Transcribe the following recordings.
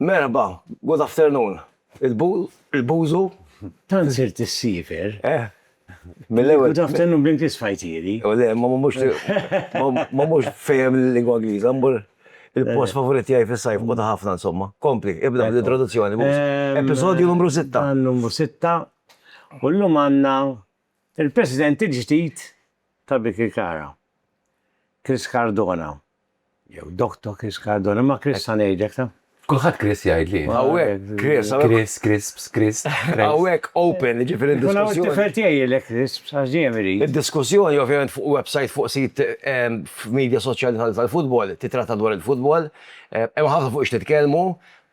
Merħba, good afternoon, il-bu, il-buzu. Tant sirt is-siefer. Eh. Mill-ewwel. Good afternoon bl-Ingliż fajtieri. U le, ma mhux ma mhux fehem l-lingwa Ingliża, mmur il-post favorit tiegħi fis-sajf u ta' ħafna insomma. Kompli, ibda bl-introduzzjoni. Episodju numru sitta. Numru sitta. U llum għandna il-President il-ġdid ta' Birkirkara, Chris Cardona. Jew Doctor Chris Cardona, ma' Chris sa ngħidlek ta'. Kulħadd Chris jgħidli. Hawnhekk Chris. Chris, Crisps, Chris. Hawnhekk open, jiġifieri d-diskussjoni. Hawnhekk it-tifel tiegħi jgħidlek Crisps għax dejjem irid. Id-diskussjoni ovvjament fuq websajt fuq sit f'medja soċjali tal-futbol titratta dwar il-futbol. Hemm ħafna fuq x'nitkellmu.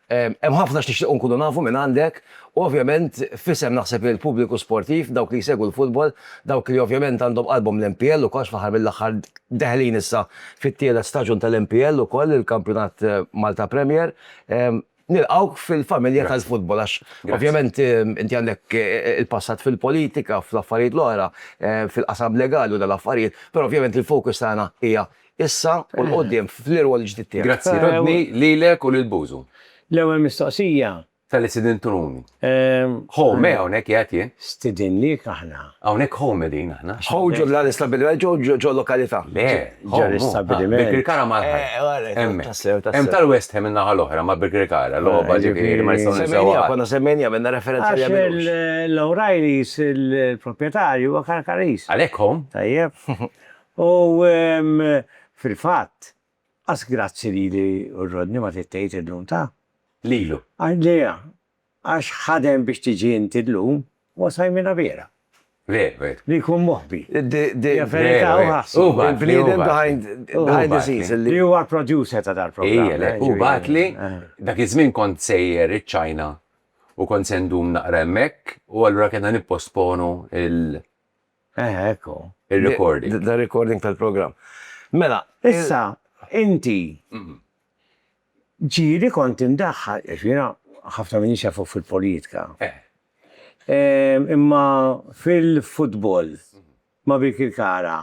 Hemm ħafna x'nixtiequ nkunu nafu minn għandek u ovvjament f'isem naħseb il-pubbliku sportiv, dawk li jsegwu l-futbol, dawk li ovvjament għandhom qalbhom l-MPL ukoll għax fl-aħħar mill-aħħar deħlin issa fit-tielet staġun tal-MPL ukoll, il-Kampjonat Malta Premier, nilqgħuk fil-familja tal-futbol għax ovvjament inti għandek il-passat fil-politika, fl-affarijiet l-oħra, fil-qasam legali u dal-affarijiet, però ovvjament il-focus tagħna hija Issa u 'l quddiem fl-irwol il-ġdid tiegħek. Grazzi Rodney, lilek u lil Bużu. L-ewwel mistoqsija. Talli stidintuni. Ho, me hawnhekk qiegħed jien. Stidinniek aħna. Hawnhekk ho qegħdin aħna. Ho ġo f'dan l-istabbiliment jew ġo lokalità? Le, ho mu. Birkirkara mal-ħajt. Hemmhekk. Hemm tal-West Ham in-naħa l-oħra ma' Birkirkara, logħba ġifieri li ma nistgħu ninsewha qatt. Konna semmejniha, għamilna referenza għaliha mill-ewwel. Għax l-O'Reillys, il-proprjetarju huwa Karkaris. Għalhekk ho. Tajjeb. U fil-fatt, qas grazzi lili u Rodney ma trid tgħid illum ta? Lilu. Għalija, għax ħadem biex tiġi inti llum, huwa sajmina vera. Veru, veru. Li jkun moħbi. Hija verità, hu ħassu. Hu bagħatli. Hu bagħatli. Behind the scenes. Li huwa l-producer ta' dal-programm. Ija, hu bagħatli. Dak iż-żmien kont sejjer iċ-Ċina u kont se ndum naqra hemmhekk u allura kellna nipposponu l. Eħe, hekk hu. Ir-recording. The recording tal-programm. Mela. Issa, inti ġieli kont indaħħal, għax jiena ħafna minnix jafuk fil-politika. Imma fil-futbol ma' Birkirkara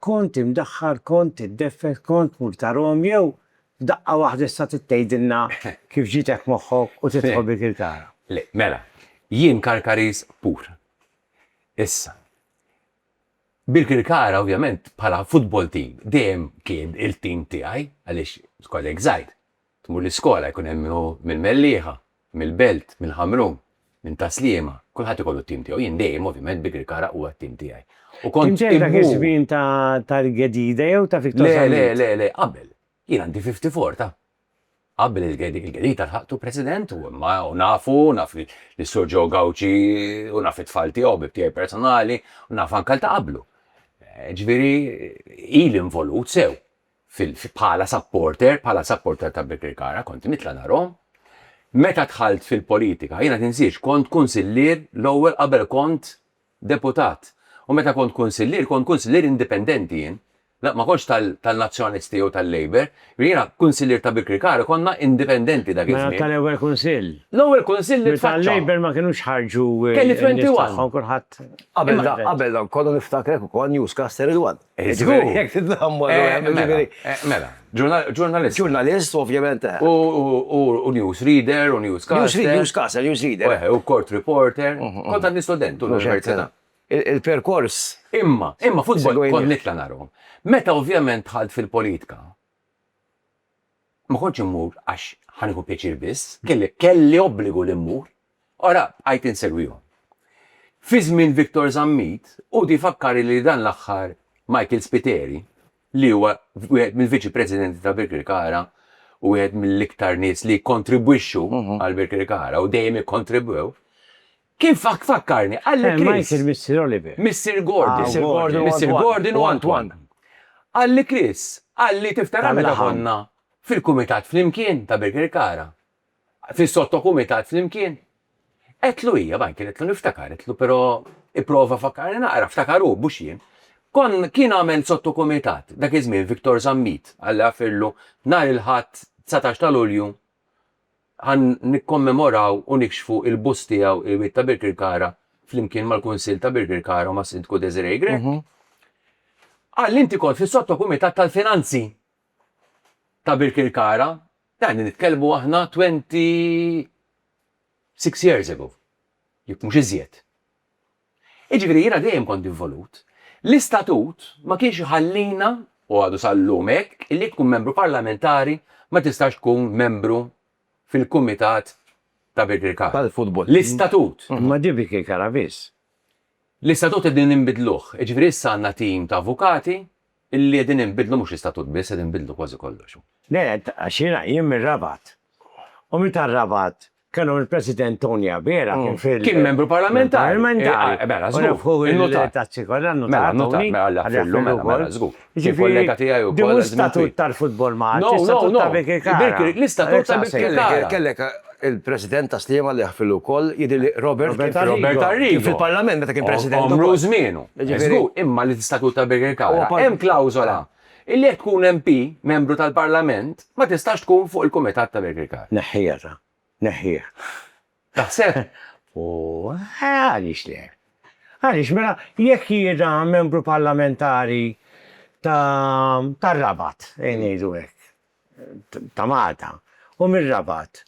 kont imdaħħal, kont iddeffes, kont tmur tarhom jew f'daqqa waħda issa trid tgħidilna kif ġitek moħħok u tidħol Birkirkara? Le, mela, jien Karkaris pur. Issa, Birkirkara ovvjament bħala futbol team dejjem kien il-team tiegħi għaliex kollek żgħir, tmur l-iskola jkun hemm min hu mill-Mellieħa, mill-Belt, mill-Ħamrun, minn Tas-Sliema, kulħadd ikollu t-team tiegħu. Jien dejjem ovvjament Birkirkara huwa t-team tiegħi. U kont Kien ġej dak iż-żmien ta' Target Ġdida jew ta' Victor Zammit? Le, le, le, le, qabel. Jien għandi 54 ta'. Qabel il-Gherita lħaqtu President u imma u nafu, naf lis-Sur Joe Gauci u naf it-tfal tiegħu, ħbieb tiegħi personali, u naf anke għal ta' qablu. Ġifieri ili involut sew bħala supporter, bħala supporter ta' Birkirkara, kont nitla' narhom. Meta dħalt fil-politika, jiena tinsiex, kont Kunsillier l-ewwel qabel kont Deputat, u meta kont Kunsillier, kont Kunsillier indipendenti jien. La, ma kontx tal-Nazzjonalisti jew tal-Labour. Jiena, Kunsillier ta' Birkirkara, konna indipendenti dak iż-żmien. Mela tal-Ewwel Kunsill? L-Ewwel Kunsill li tfaċċa. Meta l-Labour ma kinux ħarġu n-nies tagħhom, kulħadd. Qabel dan kollu niftakrek ukoll newscaster Ridwan. Żgur, jekk tidlammu eh, hemm mela, ġifieri. Eh, mela, ġurnalist. Ġurnalist, ovvjament. Eh. U news reader, u news caster. News caster, news reader. U court reporter. Mhm, mhm. Kont għandi student u l-università. Il-perkors. Imma, imma futbol kont nitla narhom. Meta ovvjament ħalt fil-politika, Ma kontx immur għax ħa nieħu pjaċir biss, kelli, kelli obbligu li mmur. Ara, bqajt insegwihom. Fi żmien Victor Zammit, hu di fakkari li dan l-aħħar Michael Spiteri, li huwa wieħed mill-Viċi Presidenti ta' Birkirkara u wieħed mill-iktar nies li jikkontribwixxu għal Birkirkara u dejjem ikkontribwew, Kien fakkarni, qal li Chris. Michael, Missier Oliver. Missier Gordon. Missier Gordon u Antoine. Qal li Chris, qal li tiftakar meta konna fil-kumitat flimkien ta' Birkirkara? Fis-sottokumitat flimkien? Għedtlu hija, Michael, għedtlu niftakar, għedtlu però ipprova fakkarni naqra, ftakar hu, mhux jien. Kon, kien għamel sottokumitat, dak iż-żmien Victor Zammit, Alla jagħfirlu, nhar il-Ħadd 19 ta' Lulju Ħa nikkommemoraw u nikxfu l-bust tiegħu il-Wied ta' Birkirkara flimkien mal-Kunsill ta' Birkirkara u mas-Sindku Desiree Grech. Qal li inti kont fis-Sottokumitat tal-Finanzi ta' Birkirkara, yani nitkellmu aħna twenty six years ago, jekk mhux iżjed. Jiġifieri jiena dejjem kont involut. L-istatut ma kienx iħallina, u għadu sal-lum hekk, li jekk tkun membru parlamentari ma tistax tkun membru fil-kumitat ta' Birkirkara. Tal-futbol. L-istatut. Imma di Birkirkara biss. L-istatut qegħdin inbidluh. Jiġifieri issa għandna tim ta' avukati, Illi qegħdin inbiddlu mhux l-istatut biss, qed inbiddlu kważi kollox. Qed għax jiena jien mir-Rabat. U meta r-Rabat kellhom il-President Tony Abela kien fil-. Kien membru parlamentari. Parlamentari. Eh mela, żgur. U nafħu il-notar. Tazzi kollha n-notar. Mela, notar, mela l-affillu, mela, mela, żgur. Kien kollega tiegħi wkoll. Ġifieri, l-istatut tal-futbol ma għadx. No, no, no. L-istatut tal-Birkirkara. Kellek. Il-President ta' Sliema li ħfilu wkoll jidhirli Robert Arrigo. Kien fil-Parlament meta kien President ukoll. Għomru u żmienu. Żgur, imma l-Istatut ta' Birkirkara hemm klawżola illi jekk tkun MP, Membru tal-Parlament, ma tistax tkun fuq il-Kumitat ta' Birkirkara. Neħħiha ta'. Neħħih. Taħseb? Għaliex le? Għaliex mela jekk jiena Membru Parlamentari tar-Rabat, ejn ngħidu hekk, ta' Malta u mir-Rabat.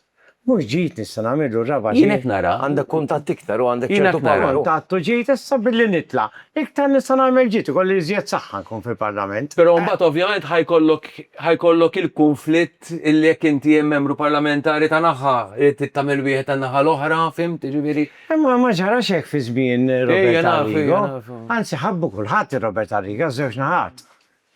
Mhux ġid nista' nagħmillu r-Rabat. Jien qed nara. Għandek kuntatt iktar u għandek ċertu power. Jien qed nara kuntatt u ġid issa billi nitla' iktar nista' nagħmel ġid, ikolli iżjed saħħa nkun fil-Parlament. Però mbagħad ovvjament ħa jkollok ħa jkollok il-kunflitt illi jekk inti hemm membru parlamentari ta' naħa irid tagħmel wieħed tan-naħa l-oħra, fimt, jiġifieri. Imma ma ġarax hekk fi żmien Robert Arrigo. Anzi ħabbu kulħadd ir-Robert Arrigo ż-żewġ naħat.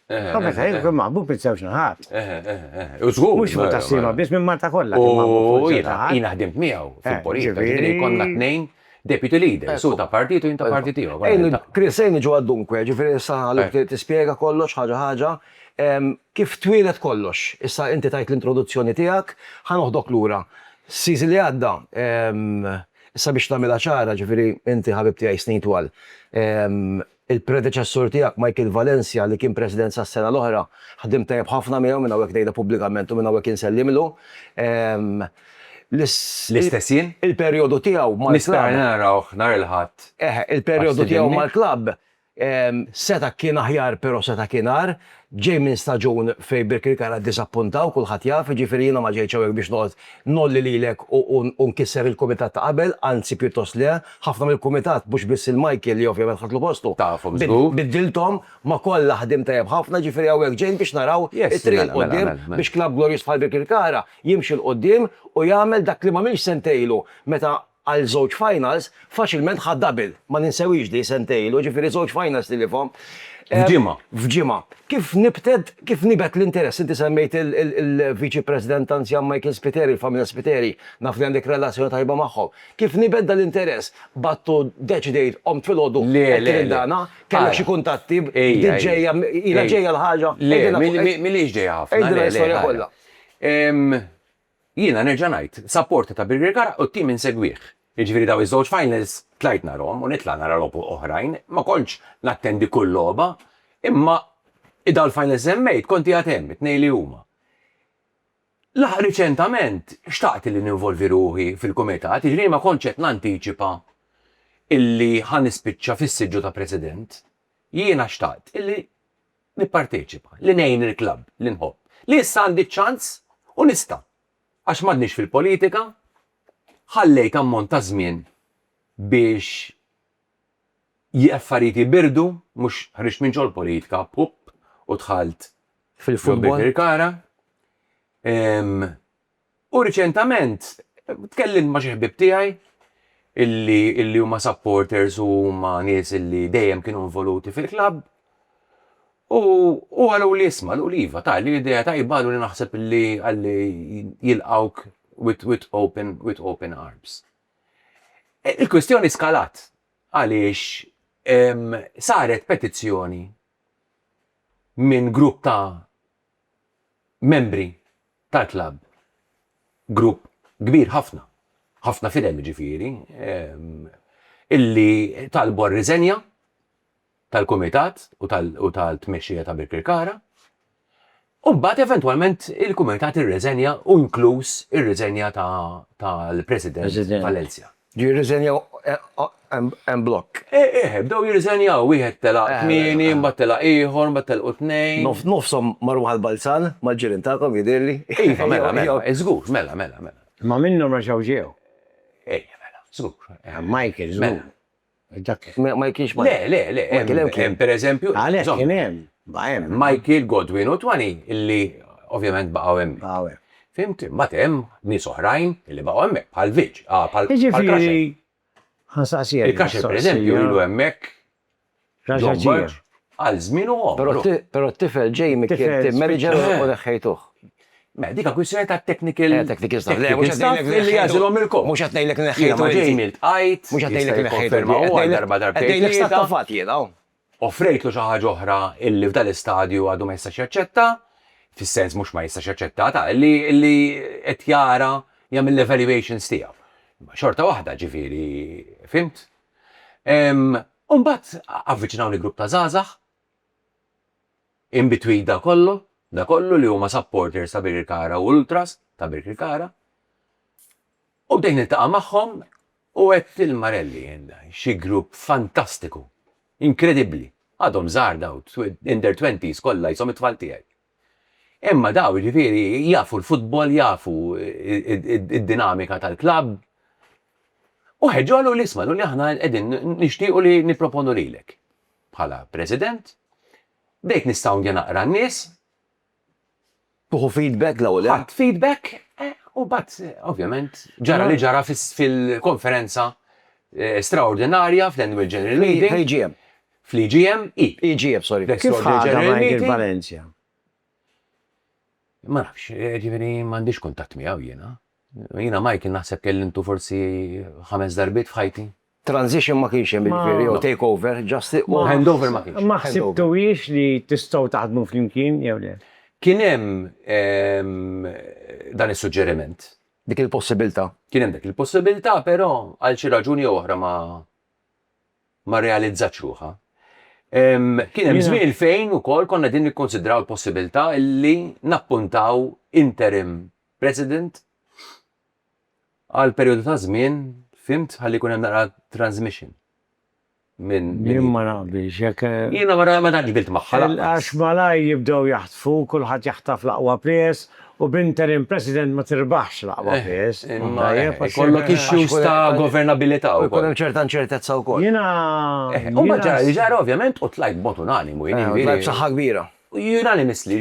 Eħe. Ħafna ta' ħin kien maħbub minn żewġ naħat. Eħe, eħe, eħe. U żgur. Mhux fuq taslima biss minn Malta kollha. U jiena, jiena ħdimt miegħu fil-politika. Ġifieri konna tnejn deputy leaders, hu ta' partit u jien ta' partit ieħor. Ejn, Chris, ejn niġu għad-dunque, ġifieri issa ħalli tispjega kollox ħaġa ħaġa. Kif twieled kollox? Issa inti tajt l-introduzzjoni tiegħek, ħa noħdok lura. Season li għadda, issa biex nagħmilha ċara, ġifieri inti ħabib tiegħi snin twal, Il-predeċessur tiegħek Michael Valencia li kien President sas-sena l-oħra, ħdimt tajjeb ħafna miegħu, minn hawnhekk ngħidha pubblikament u minn hawnhekk insellimlu. L-istess jien. Il-perjodu tiegħu mal-klabb. Nispera li narawh nhar il-Ħadd. Eħe, il-perjodu tiegħu mal-klabb seta' kien aħjar però seta' kien agħar, Ġej minn staġun fejn Birkirkara ddiżappunta u kulħadd jaf, jiġifieri jiena ma ġejtx hawnhekk biex noqgħod ngħolli lilek u nkisser il-kumitat ta' qabel, anzi pjuttost le, ħafna mill-kumitat, mhux biss il-Michael li ovvjament ħadtlu postu, biddilthom, ma' kollha ħdimt tajjeb ħafna, jiġifieri hawnhekk ġejt biex naraw it-triq 'l quddiem biex klabb glorjuż bħal Birkirkara jimxi 'l quddiem u jagħmel dak li m'għamilx sentejn ilu meta għal żewġ finals, faċilment ħa double. Ma ninsewhiex di, sentejn ilu, jiġifieri żewġ finals tilifhom. F'ġimgħa. F'ġimgħa. Kif nibted, kif nibet l-interess? Inti semmejt il-Viċi President anzjan Michael Spiteri, il-familja Spiteri, naf li għandek relazzjoni tajba magħhom. Kif nibet dan l-interess? Battu, deċidejt, qomt filgħodu, għedt lil dana, kellek xi kuntatti, bdiet ġejja, ilha ġejja l-ħaġa? Le, m'hiex ġejja ħafna. Għidilna l-istorja kollha. Jiena nerġa' ngħid, supporter ta' Birkirkara u t-tim insegwih. Jiġifieri dawn iż-żewġ finals tlajt narahom u nitla' nara logħob oħrajn, ma kontx nattendi kull logħba, imma dawn il-finals li semmejt kont qiegħed hemm, it-tnejn li huma. L-aħħar riċentament xtaqt li ninvolvi ruħi fil-kumitat, jiġifieri ma kontx qed nantiċipa illi ħa nispiċċa fis-siġġu ta' President. Jiena xtaqt illi nipparteċipa, li ngħin il-klabb li nħobb, li issa għandi ċ-ċans u nista'. Għax m'għadniex fil-politika, ħallejt ammont ta' żmien biex l-affarijiet jibirdu, mhux ħriġt minn ġol-politika, pupp, u dħalt fil-futbol. Ġo Birkirkara. U riċentament tkellimt ma' xi ħbieb tiegħi illi illi huma supporters u huma nies illi dejjem kienu involuti fil-klabb u u qaluli isma' qaluli iva ta' li idea tajba qaluli naħseb illi qalli jilqgħuk with with open with open arms. Il-kwistjoni skalat għaliex saret petizzjoni minn grupp ta' membri tal-klabb, grupp kbir ħafna, ħafna fidem jiġifieri, illi talbu r-riżenja tal-kumitat u tal-tmexxija ta' Birkirkara, u mbagħad eventwalment il-kumitat irriżenja u inkluż ir-riżenja tal-president Valencia. Ġie jirriżenjaw en blokk. Eh, eh, bdew jirriżenjaw, wieħed telaq kmieni, mbagħad telaq ieħor, mbagħad telqu tnejn. Nofshom marru għall-Balzan, mal-ġirien tagħkom jidhirli. Iva, mela, mela, żgur, mela, mela, mela. Imma minnhom reġgħu ġew. Ejja, mela, żgur. Michael, żgur. Dak. Ma ma kienx ma. Le, le, le, hemm hemm kien. Pereżempju. Għalhekk żomm. kien hemm. Ma hemm. Michael, Godwin u Twani li ovvjament baqgħu hemm. Baqgħu hemm. Fhimt? Imbagħad hemm nies oħrajn li baqgħu hemmhekk bħal Viġ, ah, bħal Krasher. Jiġifieri ħa nsaqsija. Il-Krasher pereżempju ilu hemmhekk. Raġa' ġie. Għal żmien u għomru. Però t-tifel ġej mill-Meriġan u neħħejtuh. Mela, dik hija kwistjoni ta' technical staff. Technical staff, le, mhux qed ngħidlek li jagħżilhom il-kop. Mhux qed ngħidlek li neħħejthom. Jiena ma ġej miltqajt, jista' jikkonferma. Mhux qed ngħidlek li neħħejthom. Qed ngħidlek stat ta' fatt jien hawn. Offrejtlu xi ħaġa oħra li f'dan l-istadju għadu ma jistax jaċċetta, fis-sens mhux ma jistax jaċċetta ta' li qed jara jagħmel l-evaluations tiegħu. Imma xorta waħda, ġifieri, fhimt? U mbagħad avviċinawni grupp ta' żgħażagħ In between da kollu, da kollu li huma supporters ta' Birkirkara u ultras ta' Birkirkara. U bdejt niltaqa' magħhom u għedt lil Marelli, xi grupp fantastiku, inkredibbli, għadhom żgħar daw, in their twenties kollha qishom it-tfal tiegħi. Imma daw jiġifieri jafu l-futbol, jafu d-dinamika tal-klabb. U ħeġġu qaluli isma' qaluli aħna qegħdin nixtiequ li nipproponu lilek. bħala president, bdejt nistawndja naqra n-nies. Tuħu feedback l-ewwel. Ħadd feedback u bat ovvjament ġara li ġara fil-konferenza eh, straordinarja fl-annual general meeting. Fl-AGM. Fl-AGM, i. AGM, sorry. Kif ħadha Michael Valencia? Ma nafx, eh, ġifieri m'għandix kuntatt miegħu jiena. Jiena Michael naħseb kellimtu forsi ħames darbit f'ħajti. Transition ma kienx hemm jiġifieri jew take over, just u hand over ma kienx. Ma ħsibtuhiex li tistgħu taħdmu flimkien jew le? Kien hemm dan is-suġġeriment. Dik il-possibilità. Kien hemm dik il-possibilità però għal xi raġuni jew oħra ma ma rrealizzatx ruħha. Kien hemm żmien fejn ukoll konna qegħdin nikkunsidraw il-possibilità li nappuntaw interim president Għal perjodu ta' żmien, fhimt, ħalli jkun hemm naqra transmission minn. Jien ma naqbilx, jekk. Jiena ma tantx qbilt magħha lanqas. Għax malajr jibdew jaħtfu, kulħadd jaħtaf l-aqwa players, u b'interim president ma tirbaħx l-aqwa players. Imma jkollok issues ta' governabilità wkoll. U jkun hemm ċerta inċertezza wkoll. Jiena. U mbagħad ġara li ġara ovvjament u tlajt b'mod unanimu, jiena. Tlajt b'saħħa kbira. Unanimous li,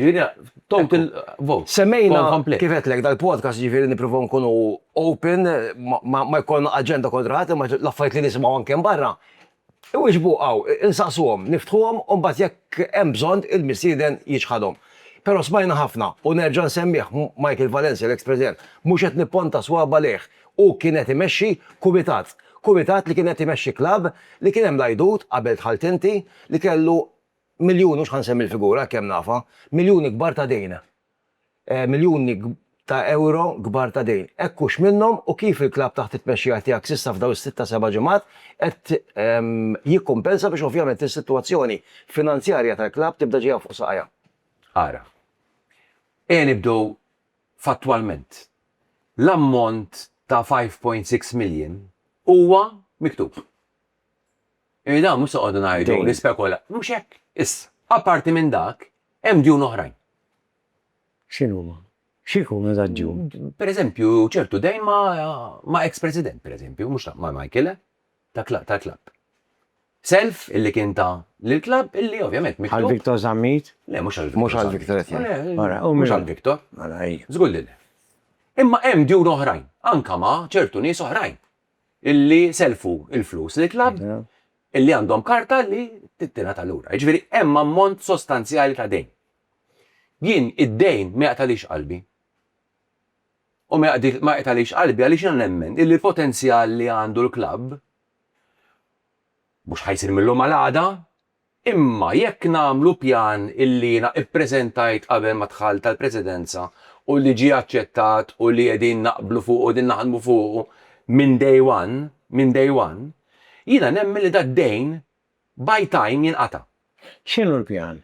total vote. Semmejna, kif għedtlek, dal-podcast ġifiri niprofaw nkunu open, ma jkollna agenda kontra ħadd, imma l-affarijiet li nisimgħu anke barra, iwieġbu hawn, insaqsuhom, niftħuhom, u mbagħad jekk hemm bżonn il-mistieden jiċħadhom. Però smajna ħafna, u nerġa' nsemmih, Michael Valencia, l-eks President, mhux qed nipponta swaba' lejh, hu kien qed imexxi kumitat. Kumitat li kien qed imexxi klabb li kien hemm l-għajdut, qabel dħalt inti, li kellu miljuni, mhux ħa nsemmi l-figura, hekk hemm nafha, miljuni kbar ta' dejn. Miljuni ta' ewro kbar ta' dejn. Hekk hux minnhom u kif il-klabb taħt it-tmexxija tiegħek s'issa f'dawn is-sitt ta' seba' ġimgħat qed jikkumpensa biex ovvjament is-sitwazzjoni finanzjarja tal-klabb tibda ġejja fuq saqajha? Ara. Ejja nibdew fattwalment. L-ammont ta' 5.6 million huwa miktub. Irid hawn mhux noqogħdu ngħidu, nispekulaw. Mhux hekk. Issa, apparti minn dak, hemm djun oħrajn. X'inhuma? X'ikunu dak djun? Pereżempju, ċertu dejn ma' eks President, pereżempju, mhux ta' ma' Michael, eh? Tal-klabb. Self illi kien ta lill-klabb illi ovvjament miktub. Għal Victor Zammit? Le, mhux għal Victor. Mhux għal Victor qed ngħid. Mara, u mhux għal Victor. Mara, ejja. Żgur li le. Imma hemm djun oħrajn, anke ma' ċertu nies oħrajn. illi selfu il-flus li klabb illi għandhom karta li tittina tal-ura. Ġviri, hemm ammont sostanzjali ta' dejn. Jien id-dejn ma jaqtalix qalbi. U ma jaqtalix qalbi għaliex jien nemmen illi l-potenzjal li għandu l-klabb mhux ħajsir mill-lum għal għada, Imma jekk nagħmlu pjan illi jiena ppreżentajt qabel ma dħalt għall-Presidenza u li ġie aċċettat u li qegħdin naqblu fuqu u qegħdin naħdmu fuqu minn day one, minn day one, jiena nemmen li dad-dejn by time jinqata'. X'inhu l-pjan?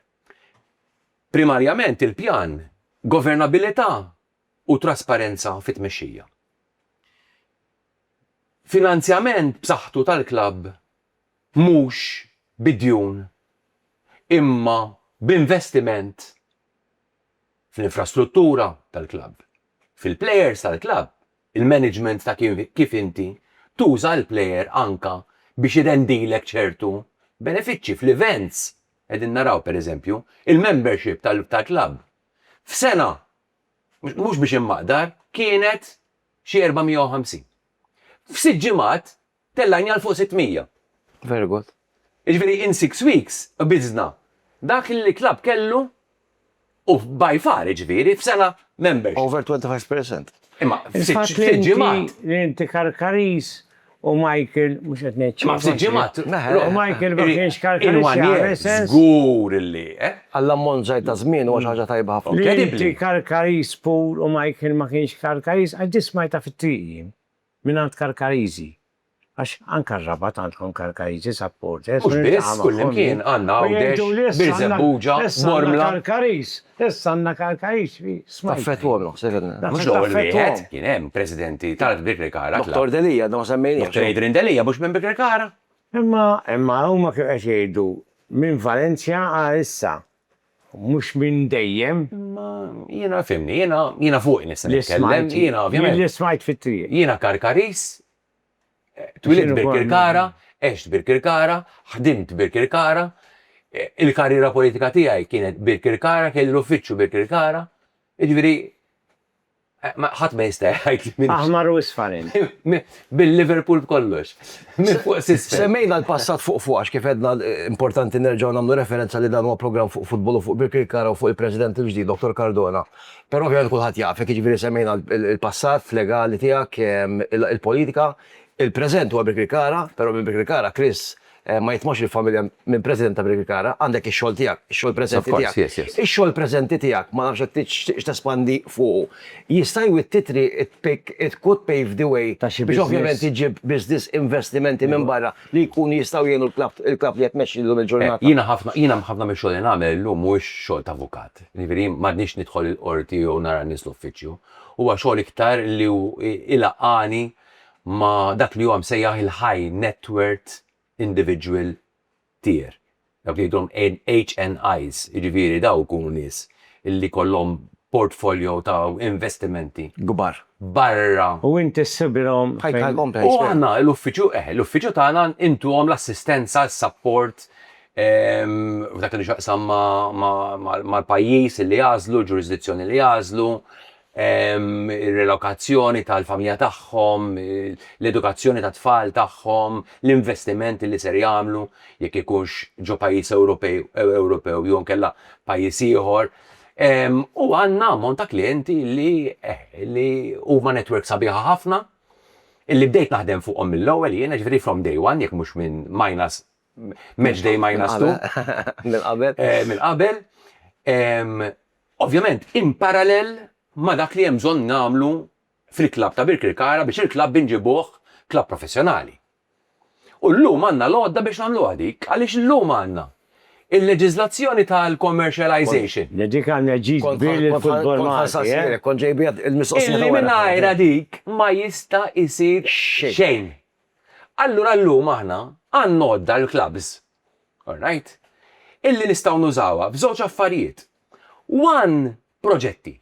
Primarjament il-pjan, governabilità u trasparenza fit-tmexxija. Finanzjament b'saħħtu tal-klabb. mhux bi djun imma b'investiment fl-infrastruttura tal-klabb, fil-plejers tal-klabb, il-management ta' kif inti tuża l-plejer anke biex irendilek ċertu benefiċċji fl-events, qegħdin naraw, per eżempju, il-membership tal-klabb f'sena, mhux biex immaqdar, kienet xi 450. F'sitt ġimgħat tellgħini għal fuq 600. Very good. Jiġifieri in six weeks qbiżna dak li l-club kellu u by far jiġifieri f'sena membership. Over 25 percent. Imma f'sitt ġimgħat. Li inti Karkaris u Michael mhux qed ngħid xejn. Imma f'sitt ġimgħat. U Michael ma kienx Karkaris. Żgur li. Għall-ammont żgħir ta' żmien huwa xi ħaġa tajba ħafna. Li inti Karkaris pur u Michael ma kienx Karkaris għax din smajtha fit-triq jien. Mingħand Karkariżi, għax anke r-Rabat għandkom Karkariżi supporters. Mhux biss, kullimkien, għandna Għawdex, Birżebbuġa, Bormla. Karkariż, issa għandna Karkariż fi Smajta. Taffettwahom, ħsibna. Mhux l-ewwel wieħed, kien hemm presidenti tal-Birkirkara Club. Dottor Delia, għadna ma semmejniex. Dottor Adrian Delia mhux minn Birkirkara? Imma, imma huma kienu qed jgħidu minn Valencia għal issa. Mhux minn dejjem. Imma jiena, fhimni, jiena, jiena fuqi nista' nitkellem, jiena ovvjament. Jien li smajt fit-triq. Jiena Karkaris, twielidt Birkirkara, għext Birkirkara, ħdimt Birkirkara, il-karriera politika tiegħi kienet Birkirkara, kelli l-uffiċċju Birkirkara, jiġifieri. Ħadd ma jista' jgħid li minn. Aħmar u isfarin. Bil-Liverpool b'kollox. Minn fuq s'isfel. Semmejna l-passat fuq fuq għax kif għedna importanti nerġgħu nagħmlu referenza li dan huwa programm fuq futbol u fuq Birkirkara u fuq il-President il-ġdid Dottor Cardona. Però ovvjament kulħadd jafek, jiġifieri semmejna l-passat legali tiegħek, il-politika, il-preżent huwa Birkirkara, però minn Birkirkara Chris Ma jitmorx il-familja minn President ta' Birkirkara, għandek ix-xogħol tiegħek, ix-xogħol preżenti tiegħek. Ix-xogħol preżenti tiegħek ma nafx jekk tixtieqx tespandi fuqu. Jista' jwitti triq it-pick, it could pave the way biex ovvjament iġġib business, investimenti minn barra li jkunu jistgħu jgħinu l-klabb, il-klabb li qed tmexxi llum il-ġurnata. Jiena ħafna, jiena ħafna mill-xogħol li nagħmel illum mhuwiex xogħol ta' avukat. Jiġifieri jien m'għadnix nidħol il-qorti jew nara n-nies l-uffiċċju. Huwa xogħol iktar li hu ilaqqagħni ma' dak li huwa msejjaħ il-high net worth individual tier, dawk li jgħidulhom HNIs, jiġifieri dawk ikunu nies li jkollhom portfolio ta' investimenti. Kbar. Barra. U inti ssibilhom fejn. Ħajt għalhom tgħix. U aħna l-uffiċċju, eh, l-uffiċċju tagħna intuhom l-assistenza, s-sapport f'dak li għandu x'jaqsam mal-pajjiż li jagħżlu, l-ġurisdizzjoni li jagħżlu, ir-relokazzjoni tal-familja tagħhom, l-edukazzjoni tat-tfal tagħhom, l-investimenti li ser jagħmlu, jekk ikunx ġo pajjiż Ewropew jew inkella pajjiż ieħor. U għandna ammont ta' klijenti li li huma network sabiħa ħafna, li bdejt naħdem fuqhom mill-ewwel jiena, jiġifieri from day one, jekk mhux minn minus match day minus 2. Minn qabel. Eh, minn qabel. Ovvjament, in parallel ma dak li hemm bżonn nagħmlu fil-klab ta' Birkirkara biex il-klab binġibuħ klab professjonali. U l-lum għanna l-għodda biex namlu għadik, għalix l-lum għanna il-leġizlazzjoni tal-commercialization. Dik għanna ġiż bil futbol Malti. Kon eh? ġejbiet il-mistoqsija. Illi minnajra dik ma jista jisir xejn. Allura llum aħna għandna għodda, l-klabbs, orrajt, illi nistgħu nużawha f'żewġ affarijiet. One, proġetti.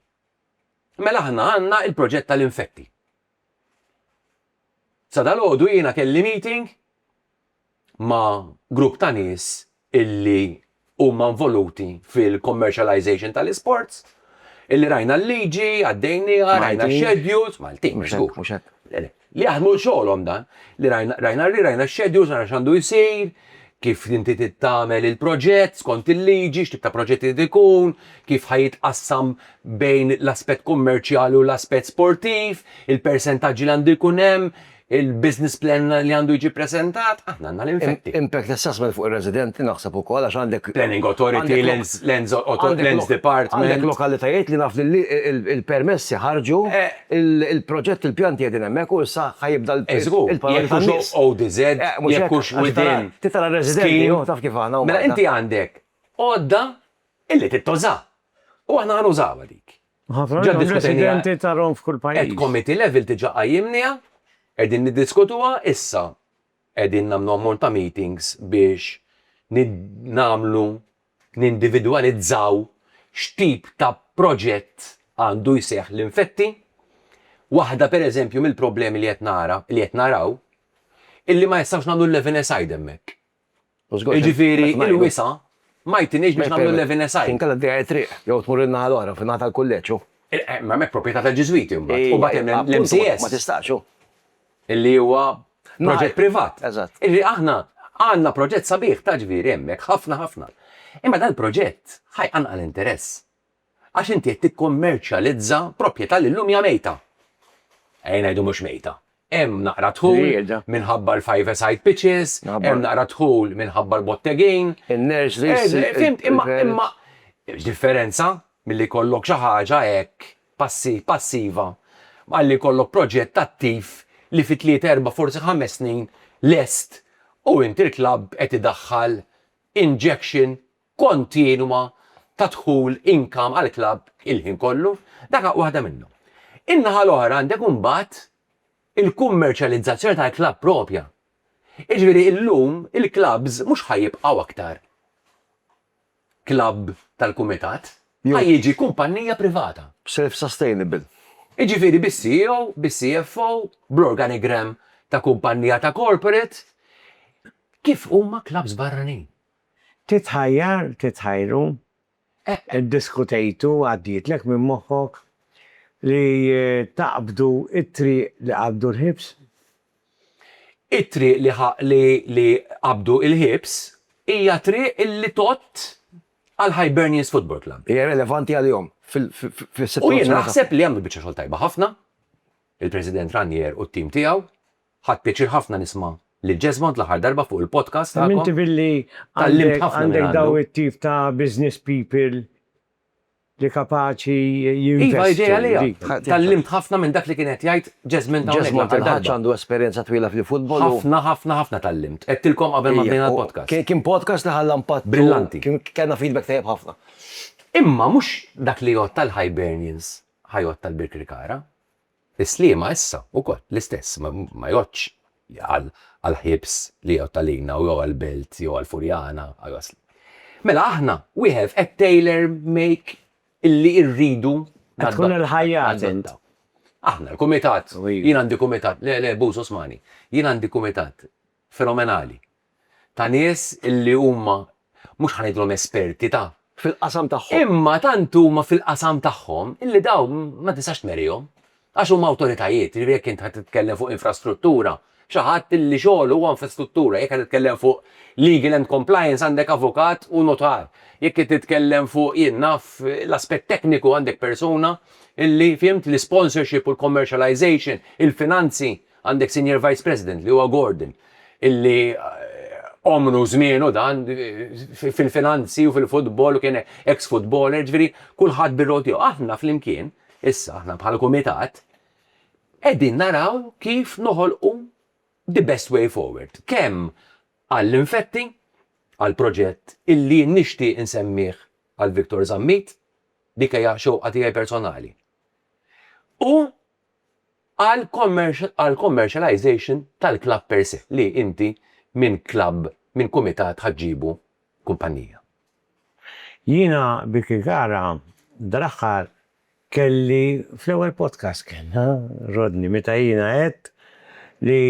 Mela aħna għandna l-proġett tal-infetti. Sa dalgħodu jiena kelli meeting ma' grupp ta' nies illi huma involuti fil-commercialization tal-isports, illi rajna l-liġi, għaddejnieha, rajna x-schedules, Maltin, mhux hekk, mhux hekk, le, le, li jaħdmu xogħolhom dan, li rajna, rajna li rajna x-schedules, rajna x'għandu jsir, kif inti trid tagħmel il-proġett skont il-liġi, x'tip ta' proġett irid ikun, kif ħa jitqassam bejn l-aspett kummerċjali u l-aspett sportiv, il-persentaġġi li għandu jkun hemm, Il-business plan li għandu jiġi ppreżentat, aħna għandna l-infetti. Impact assessment fuq ir-residenti naħseb ukoll għax għandek. Planning Authority, Lands Department. Għandek lokalitajiet li naf li l-permessi ħarġu, il-proġett il-pjanti qegħdin hemmhekk u issa ħa jibda l-paroli tan-nies. Jekk hux ODZ, jekk hux within. Titgħallem tara r-residenti, hu taf kif aħna. Mela inti għandek għodda li tittuża. U aħna ħa nużawha dik. Ħafna minnhom residenti ta' Rom f'kull pajjiż. At committee level diġà qajjimniha, qegħdin niddiskutuha issa. Qegħdin nagħmlu ammont ta' meetings biex nagħmlu, nindividwalizzaw x'tip ta' proġett għandu jseħħ l-infetti. Waħda pereżempju mill-problemi li qed nara, li qed naraw, illi ma jistgħux nagħmlu l-level aside hemmhekk. Jiġifieri l-wisa' ma jtinix biex nagħmlu l-Levine Site. Inkella tdejja t-triq, jew tmur in-naħa l-oħra, fin-naħa tal-kulleġġ, hu. Imma hemmhekk propjetà tal-Ġiżwiti mbagħad. U mbagħad hemm l-MCS. Ma tistax, hu. Li huwa proġett privat. Eżatt. Jiġifieri aħna għandna proġett sabiħ ta' ġbir hemmhekk, ħafna ħafna. Imma dal-proġett ħa jqanqal interess. Għax inti qed tikkummerċjalizza proprjetà li llum hija mejta. Ejja ngħidu mhux mejta. Hemm naqra dħul minħabba l-five-a-side pitches, hemm naqra dħul minħabba l-bottegin. In-nurseries. Fihimt, imma, imma, hemm differenza milli jkollok xi ħaġa hekk passi, passiva, malli jkollok proġett attiv li fi tlieta, erbgħa, forsi ħames snin lest u inti l-klabb qed idaħħal injection kontinwa ta' dħul, income, għall-klabb il-ħin kollu, dak waħda minnhom. In-naħa l-oħra għandek imbagħad il-kummerċjalizzazzjoni tal-klabb proprja. Jiġifieri illum il-klabbs mhux ħa jibqgħu aktar klabb tal-kumitat, ħa jiġi kumpannija privata. B'self sustainable. Jiġifieri bis-CEO, bis-CFO, bl-organigram ta' kumpannija ta' corporate, kif huma klabbs barranin. Titħajjar, titħajru, eħ iddiskutejtu, għaddietlek minn moħħok li taqbdu t-triq li qabdu l-ħiebs? It-triq li li qabdu l-ħiebs hija triq li tgħodd għal Hibernians Football Club. Hija relevanti għalihom fis-sitwazzjoni tagħhom. U jien naħseb li għamlu biċċa xogħol tajba ħafna, il-President Ranier u t-tim tiegħu, Ħadt pjaċir ħafna nisma' lil Jesmond l-aħħar darba fuq il-podcast tagħkom. Hemm inti billi għandek dawn it-tip ta' business people li kapaċi jinvestu. Iva, idea għaliha. Tgħallimt ħafna minn dak li kien qed jgħid Jesmond hawnhekk. Jesmond il-Ħaġġ għandu esperjenza twila fil-futbol. Ħafna, ħafna, ħafna tgħallimt. Għedtilkom qabel ma bdejna l-podcast. Kien podcast li ħalla impatt. Brillanti. Kellna feedback tajjeb ħafna. Imma mhux dak li jgħodd tal-Hibernians ħa jgħodd tal-Birkirkara. Is-Sliema issa wkoll l-istess, ma jgħoddx għall-ħiebs li jgħodd għalina jew għall-Belt jew għall-Furjana, Agħasli. Mela aħna wieħed qed tailor make illi rridu nadottaw. Aħna l-kumitat, jien għandi kumitat, le le Buz Osmani, jien għandi kumitat fenomenali ta' nies illi huma mhux ħa ngħidilhom esperti ta'. Fil-qasam tagħhom. Imma tant huma fil-qasam tagħhom illi dawn ma tistax tmerihom għax huma awtoritajiet, jiġifieri jekk int ħa titkellem fuq infrastruttura, xi ħadd illi xogħlu huwa infrastruttura, jekk ħa titkellem fuq legal and compliance għandek avukat u nutar, jekk qed titkellem fuq jien naf l-aspett tekniku għandek persuna illi, fihimt, l-isponsorship u l-commercialization, il-finanzi, Għandek Senior Vice President li huwa Gordon illi għomru u żmienu dan fil-finanzi u fil-futbol u kien ex futboler, ġifieri kulħadd bir-rol tiegħu. Aħna flimkien, issa aħna bħala kumitat, qegħdin naraw kif noħolqu the best way forward, kemm għall-infetti, għall-proġett illi nixtieq insemmih għal Victor Zammit, dik hija xewqa tiegħi personali, u għall-commercialization tal-klabb per se, li inti minn klabb, minn kumitat ħa ġġibu kumpannija. Jiena Vicky Gara dal-aħħar kelli fl-ewwel podcast kellna Rodney meta jiena għedt li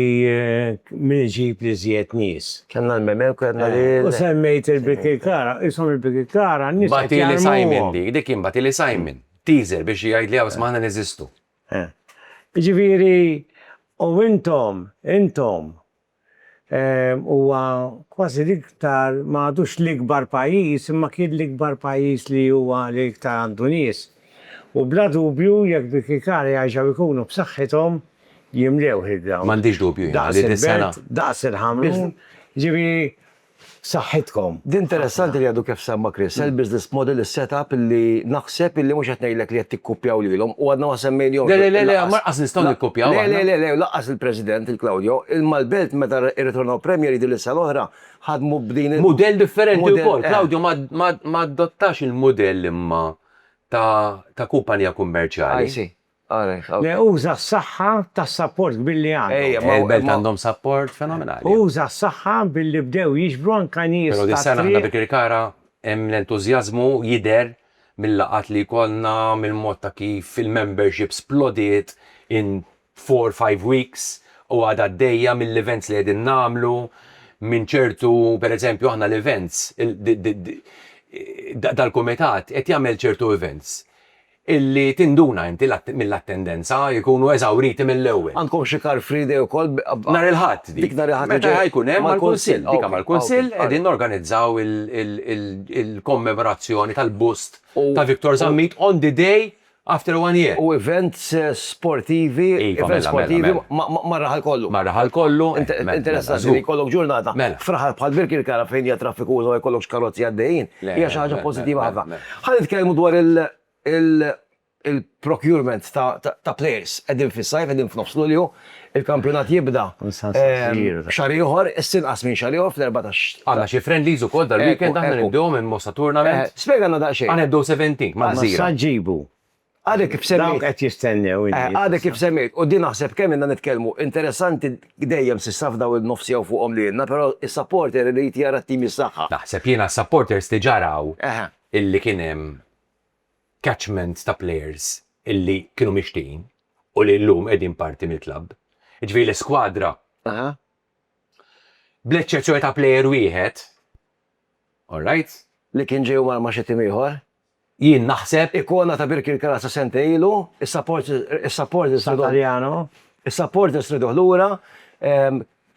min iġib l-iżjed nies. Kellna l-Memeko għedna li. U semmejt il-Vicky Gara, qishom il-Vicky Gara n-nies qed jarmuhom. Batili Simon dik, dik kien Batili Simon. Teaser biex jgħidli hawn smajna neżistu. Jiġifieri u intom, intom, huwa kważi l-iktar ma għadux l-ikbar pajjiż imma kien l-ikbar pajjiż li huwa li iktar għandu nies. U bla dubju jekk Birkirkara jerġgħu jkunu b'saħħithom jimlewh il-ground. M'għandix dubju jiena li dis-sena. Daqs il-Ħamrun, jiġifieri F'saħħitkom. Din interessanti li għadu kif semma Chris, el business model, il set up illi naħseb illi mhux qed ngħidlek li qed tikkupjaw lilhom u għadna ma semmejnihomx. Le le le le lanqas nistgħu nikkupjaw aħna. Le le le le lanqas il President il Claudio, il Malbelt meta rritornaw Premier League din is sena l-oħra ħadmu b'din il Mudell differenti wkoll. Claudio ma adottax il mudell imma ta kumpanija kummerċjali. I see. Le uża s-saħħa tas-sapport kbir li għandhom. Il-Belt għandhom sapport fenomenali. Uża s-saħħa billi bdew jiġbru anke nies tat-triq. Però dis-sena aħna bi Kirkara hemm l-entużjażmu jidher mil-laqgħat li jkollna, mill-mod ta' kif il-membership splodiet in four, five weeks u għadha għaddejja, mill-events li qegħdin nagħmlu, minn ċertu, pereżempju aħna l-events, dal-kumitat qed jagħmel ċertu events. illi tinduna inti mill-attendenza jkunu eżawriti mill-ewwel. Għandkom xi car free day ukoll b'. Nhar il-Ħadd dik. Dik nhar il-Ħadd li ġej. Meta ħajkun hemm mal-Kunsill. Dika mal-Kunsill qegħdin norganizzaw il-kommemorazzjoni tal-bust ta' Victor Zammit on the day after one year. U events sportivi, events sportivi mar-raħal kollu. Mar-raħal kollu. Interessanti li jkollok ġurnata f'raħal bħal Birkirkara fejn hija traffikuża u ma jkollokx karozzi għaddejjin hija xi ħaġa pożittiva ħafna. Ħa nitkellmu dwar il-procurement ta' players. Qegħdin fis-sajf, qegħdin f'nofs Lulju, il-kampjonat jibda xahar ieħor, issa inqas minn xahar ieħor fl-erbatax. Għandna xi friendlies ukoll dal-weekend aħna nibdewhom immossa tournament. Spjegalna daqsxejn. Aħna nibdew 17 mal-Gżira. Sa ġġibu Għadek kif semmejt. Dawk qed jistennew. Għadek kif semmejt. U din naħseb kemm inna nitkellmu. Interessanti dejjem s'issa f'daw il-nofs jew fuqhom li ilna, però is-supporter irid jara t-tim jissaħħaħ. Naħseb jiena s-supporters diġà raw illi kien hemm catchment ta' players illi kienu mixtieqin u li llum qegħdin parti mill-klabb. Jiġifieri l-iskwadra, bl-eċċezzjoni ta' player wieħed, alright? Li kien ġej u mar ma' xi tim ieħor. Jien naħseb ikona ta' Birkirkara sa sentej ilu, is-supporters riduh. Satariano. Is-supporters riduh lura.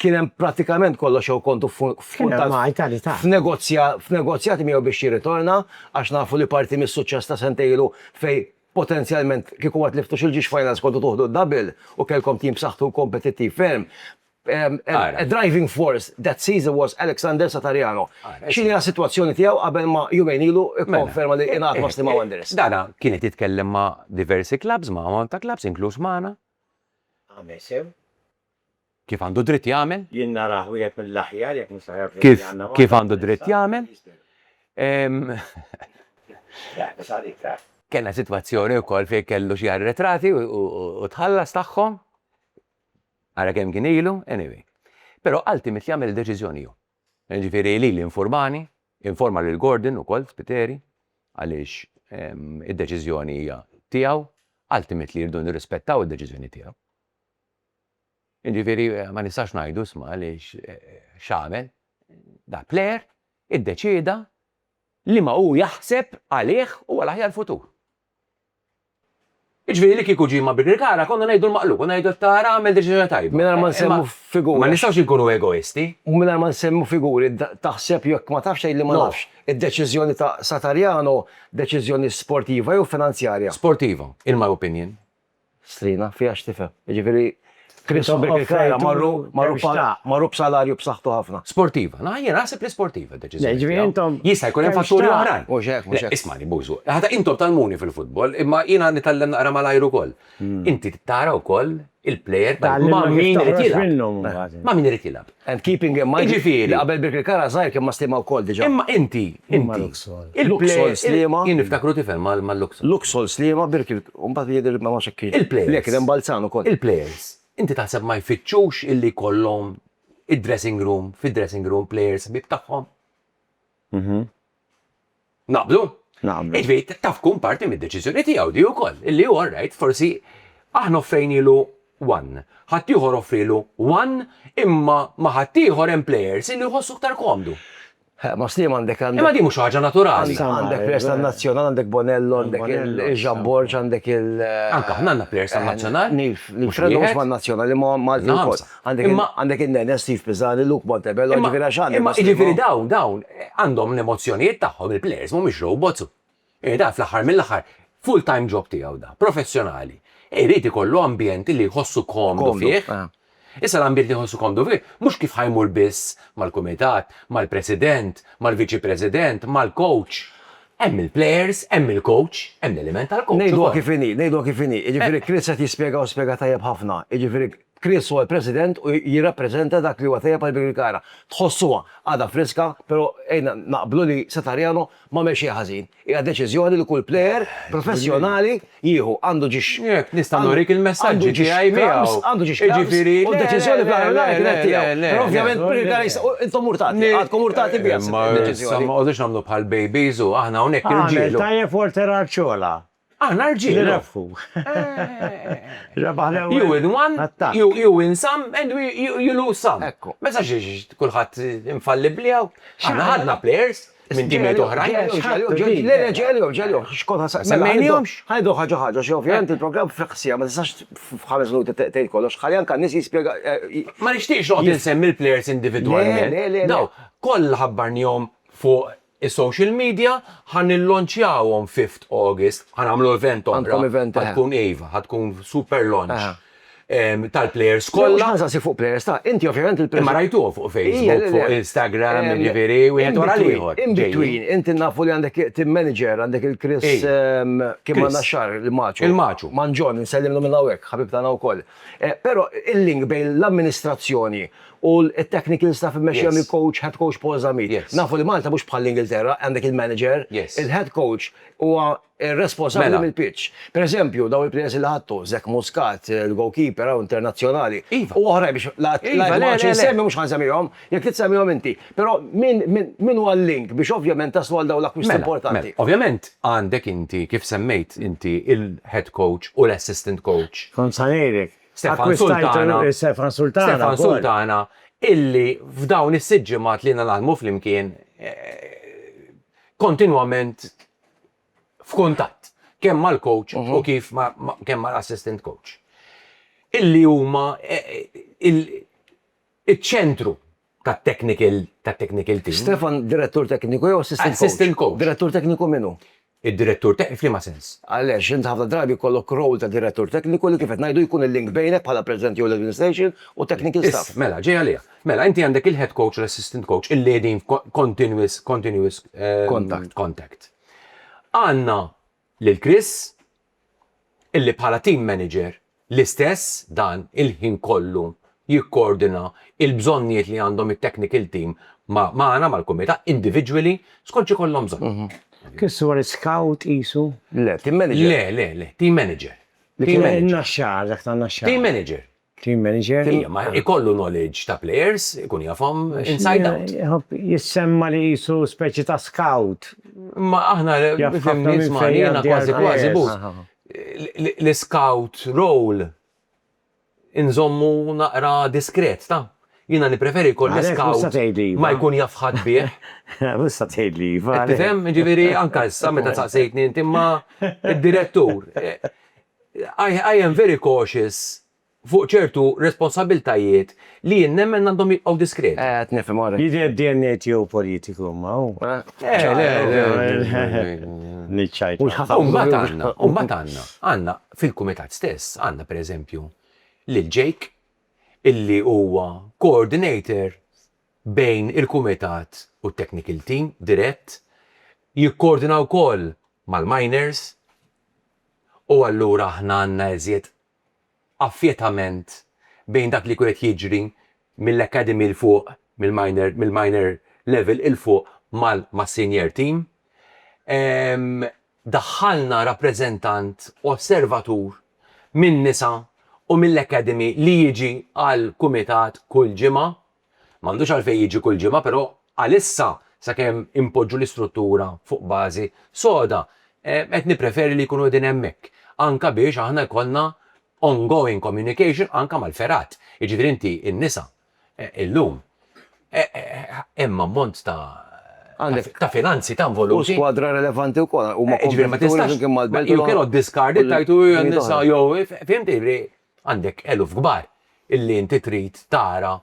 Kien hemm prattikament kollox jew kontu f'negozjati miegħu biex jirritorna għax nafu li parti mis-suċċess ta' sentej ilu fejn potenzjalment kieku ma tliftux il-Ġiex Finals kontu tuħdu d-double u kellkom tim b'saħħtu u kompetittiv ferm. A driving force that season was Alexander Satariano. X'inhi s-sitwazzjoni tiegħu qabel ma jumejn ilu kkonferma li ingħaqad ma' Sliema Wanderers? Dana kien qed jitkellem ma' diversi klabbs, ma' għamam ta' klabbs, inkluż magħna. Għamel sew. Kif għandu dritt jagħmel. Jien narah wieħed mill-aħjar jekk nista' ngħid li għandna magħna. Kif għandu dritt jagħmel. Kellna sitwazzjoni wkoll fejn kellu xi arretrati u tħallas tagħhom. Ara kemm kien ilu, anyway. Però ultimate jagħmel id-deċiżjoni hu. Jiġifieri lili nfurmani, informa lil Gordon ukoll Spiteri għaliex id-deċiżjoni hija tiegħu, ultimately rridu nirrispettaw id-deċiżjoni tiegħu. Jiġifieri ma nistax ngħidu isma' għaliex x'għamel. Da player iddeċieda liema hu jaħseb għalih huwa l-aħjar futur. Jiġifieri li kieku ġie ma' Birkirkara konna ngħidu l-maqlub u ngħidu qed tara għamel deċiżjoni tajba. Mingħajr ma nsemmu figuri. Ma nistgħux inkunu egoisti. U mingħajr ma nsemmu figuri, taħseb jekk ma tafx tgħidli ma nafx, id-deċiżjoni ta' Satariano deċiżjoni sportiva jew finanzjarja? Sportiva, in my opinion. Strina, fiha x'tifhem. Jiġifieri Chris u Birkirkara marru marru b'salarju b'saħħtu ħafna. Sportiva. Naħa jien naħseb li sportiva d-deċiżjoni. Jiġifieri intom. Jista' jkun hemm fatturi oħrajn. Mhux hekk, mhux hekk. Ismagħni, Bożu, ħata intom tgħallmuni fil-futbol, imma jiena nitgħallem naqra malajr ukoll. Inti tara wkoll il-plejer ma' min irid jilgħab. Ma' min irid jilgħab. And keeping in mind li qabel Birkirk Kara żgħir kien ma' Sliema wkoll diġà. Imma inti, inti, il-Luxol Sliema. Jien niftakru tifel mal-Luxol. Luxol Sliema, Birkirk, u mbagħad jidher li ma nafx hekk kienx. Il-plejers. Le, kien hemm Balzan ukoll. Il-plejers, inti taħseb ma jfittxux illi jkollhom id-dressing room, fid-dressing room plejers ħbieb tagħhom? Naqblu? Naqblu. Iġvi, taf tkun parti mid-deċiżjoni tiegħu di wkoll, illi hu rajt forsi aħna offrejnilu one, ħaddieħor offrilu one, imma ma' ħaddieħor hemm plejers illi jħossu aktar komdu. Ma Sliema għandek għandek. Imma din mhux ħaġa naturali. Għandek plejers tan-Nazzjonal, għandek Bonello, għandek il-Jean Borg, għandek il. Anke aħna għandna plejers tan-Nazzjonal. Nif, nif, mhux man-Nazzjonal, imma Malti wkoll. Għandek in-Nene, Steve Pisani, Luke Montebello, ġifieri għax għandek. Imma ġifieri dawn, dawn għandhom l-emozzjonijiet tagħhom, il-plejers mhumiex robots. Eh, dan fl-aħħar mill-aħħar full-time job tiegħu da, professjonali. Irid ikollu ambjent li jħossu komdu fih. Eh. Issa l-ambjent li jħossu komdu fih, mhux kif ħajmur biss mal-kumitat, mal-president, mal-viċi president, mal-coach. Hemm il-players, hemm il-coach, hemm l-element tal-coach. Ngħidu kif inhi, ngħidu kif inhi. Jiġifieri eh. Chris qed jispjega u spjega tajjeb ħafna. Jiġifieri Chris huwa l-President u jirrappreżenta dak li huwa tajjeb għall-Birkirkara. Tħossuha għadha friska, però għidna naqblu li Satariano m'għamel xejn ħażin. Hija deċiżjoni li kull plejer professjonali jieħu. Għandu ġiex. Jekk nista' nurik il-messaġġi tiegħi miegħu. Għandu ġiex clubs u d-deċiżjoni fl-aħħar mill-aħħar kienet tiegħu. Però ovvjament Birkirkara jistgħu intom urtati, għadkom urtati biha s-deċiżjoni. Ma tqogħdux tagħmlu bħal babies u aħna hawnhekk irġiel. Għamel tajjeb Walter Arciola. Aħna rġiel. Nirrebħu. Rebaħ l-ewwel. You win one, you win some and you lose some. Ekku. Ma jistax jiġi kulħadd infallibbli hawn. Aħna ħadna players minn timijiet oħrajn. Ġeljo, ġeljo, ġeljo. X'konna sa. Semmejnihomx. Ħajdu ħaġa ħaġa xi ovvjament il-programm fl-ħsija ma tistax f'ħames minuti tgħid kollox. Ħalli anke n-nies jispjega. Ma nixtieqx noqgħod insemmi l-players individwalment. Daw kollha ħabbarnihom fuq Is-social media ħa nillonċjawhom Fifth August, ħa nagħmlu event oħra. Għandkom event, eħe. Ħa tkun iva, ħa tkun super launch. Eħe. Tal-plejers Mhux kollha. ħa nsaqsik fuq plejers, ta, inti ovvjament il-. Imma rajtuhom fuq Ija, le, Facebook, le. fuq Instagram, Em, jiġifieri wieħed wara in-between, l-ieħor. ġejjin. In-between, inti nafu li għandek team manager, għandek il-Chris, Ej. ehm, kien Chris. magħna xahar, il-Maċu. Il-Maċu. Manġon, insellimlu minn hawnhekk, ħabibna hawn ukoll. Eh, Però il-link bejn l-amministrazzjoni U t-technical staff immexxija mill-coach, head coach Paul Zammit. Nafu li Malta mhux bħall-Ingilterra, għandek il-manager, il-head coach huwa responsabbli mill-pitch. Per eżempju, dawn il-players li ħadtu, Zach Muscat, il-goalkeeper hawn internazzjonali, u oħrajn biex la nqgħodx insemmi mhux ħa nsemmihom, jekk trid semmihom inti. Però min huwa l-link biex ovvjament taslu għal dawn l-akkwisti importanti? Ovvjament għandek inti, kif semmejt inti, il-head coach u l-assistant coach. Kont sa ngħidlek, Stefan Sultana, Stefan Sultana, Stefan Sultana illi f'dawn is-sitt ġimgħat li naħdmu flimkien eh, kontinwament f'kuntatt kemm mal-coach u mhm. kif kemm mal-assistant coach. Illi huma eh, il-ċentru tat-technical tat-technical team. Stefan direttur tekniku jew assistant coach? Assistant coach. Direttur tekniku min hu? Id-direttur tekniku f'liema sens? Għaliex int ħafna drabi jkollok role ta' direttur tekniku li kif qed ngħidu jkun il-link bejnek bħala president jew l-administration u technical staff. Iss, mela, ġej għaliha. Mela, inti għandek il-head coach u l-assistant coach illi qegħdin f'continuous contact. Għandna lil Chris, illi bħala team manager l-istess dan il-ħin kollu jikkoordina il-bżonnijiet li għandhom it-technical team magħna, mal-kumitat, individually, skont x'ikollhom bżonn. Chris huwa l-iskout qisu? Le, team manager. Le, le, le, team manager. Li kien in-Naxxar, dak tan-Naxxar. Team manager. Team manager. Ikollu knowledge ta' players, ikun jafhom inside out. Jissemma li qisu speċi ta' scout. Imma aħna fehmni nisma' jiena kważi kważi but l-iscout role inżommu naqra diskret taf. Jiena nippreferi jkolli scout ma jkun jaf ħadd bih. Mhux se tgħidli iva. Qed tifhem? Jiġifieri anke issa meta saqsejtni inti imma d-direttur. I am very cautious fuq ċertu responsabbiltajiet li jien nemmen għandhom jibqgħu diskret. Qed nifhem ora. Jidher li dna tiegħu politiku imma hu. U mbagħad għandna, għandna fil-Kumitat stess, għandna pereżempju lil Jake illi huwa coordinator bejn il-Kumitat u t-technical team dirett, jikkoordina wkoll mal-miners. u allura aħna għandna iżjed affjetament bejn dak li jkun qed jiġri mill-academy 'l fuq, mill-minor, mill-minor level 'il fuq mas-senior team. Daħħalna rappreżentant osservatur min-nisa u mill-academy li jiġi għall-kumitat kull ġimgħa M'għandux għalfejn jiġi kull ġimgħa però għalissa sakemm inpoġġu l-istruttura fuq bażi soda qed nippreferi li jkunu qegħdin hemmhekk anke biex aħna jkollna ongoing communication anke mal-fergħat. Jiġifieri inti n-nisa illum hemm ammont ta' ta' finanzi ta' involuti. U skwadra relevanti wkoll huma kompetituri flimkien mal-belt u l-oħra. Jiġifieri ma tistax, you cannot discard it, tgħid hu n-nisa jew, fhimtni, jiġifieri Għandek eluf kbar illi inti trid tara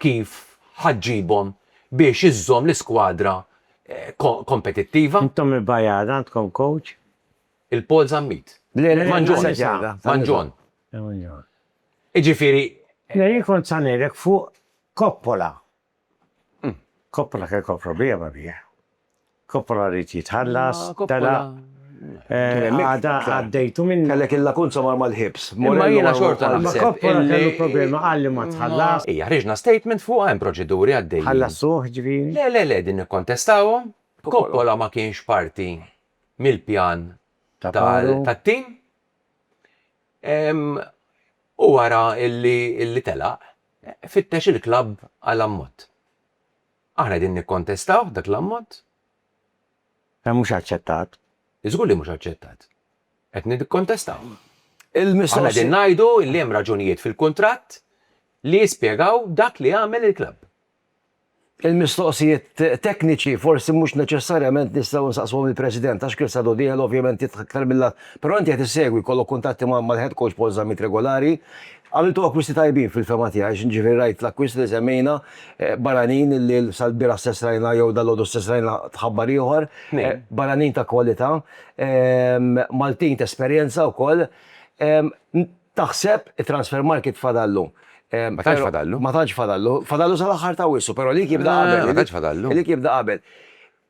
kif ħa ġġibhom biex iżżomm l-iskwadra kompetittiva. Intom il-Bajjar għandkom kowċ? Il-Paul Zammit. Le, le, Manġon. Manġon. Manġon. Manġon. Jiġifieri. Le, jien kont sa ngħidlek fuq Coppola. Coppola kellu problema bih. Coppola ried jitħallas, telaq, għada għaddejtu minnu. Kellek il-lakunza mar mal-ħibs. Imma jiena xorta naħseb. Imma Coppola kellu problema, qal li ma tħallasx. Ija, ħriġna statement fuqha, hemm proċeduri għaddejjin. Ħallassuh, ġifieri? Le, le, le, din nikkontestawhom. Coppola ma kienx parti mill-pjan tat-tim. Huwa ra li telaq. Fittex il-klabb għal ammont. Aħna qegħdin nikkontestawh dak l-ammont. Hemm mhux aċċettat. Żgur li mhux aċċettat. Qed nikkontestawh. Aħna qegħdin ngħidu li hemm raġunijiet fil-kuntratt li jispjegaw dak li għamel il-klabb. Il-mistoqsijiet tekniċi forsi mhux neċessarjament nistgħu nsaqsuhom lill-President għax Chris Adodiel ovvjament jidħaq iktar mill-għadd, però inti qed issegwi, jkollok kuntatt mal-head coach Paul Zammit regulari. Għamiltu akkwisti tajbin fil-fehma tiegħi, jiġifieri rajt l-akkwisti li semmejna barranin li sal-bieraħ stess rajna jew dalgħodu stess rajna tħabbar ieħor, barranin ta' kwalità, Maltin t'esperjenza wkoll. Taħseb it-Transfermarkt fadallu. Ma tantx fadallu. Ma tantx fadallu. Fadallu sal-aħħar ta' Awwissu, però li jibda qabel. Ma tantx fadallu. Li jibda qabel.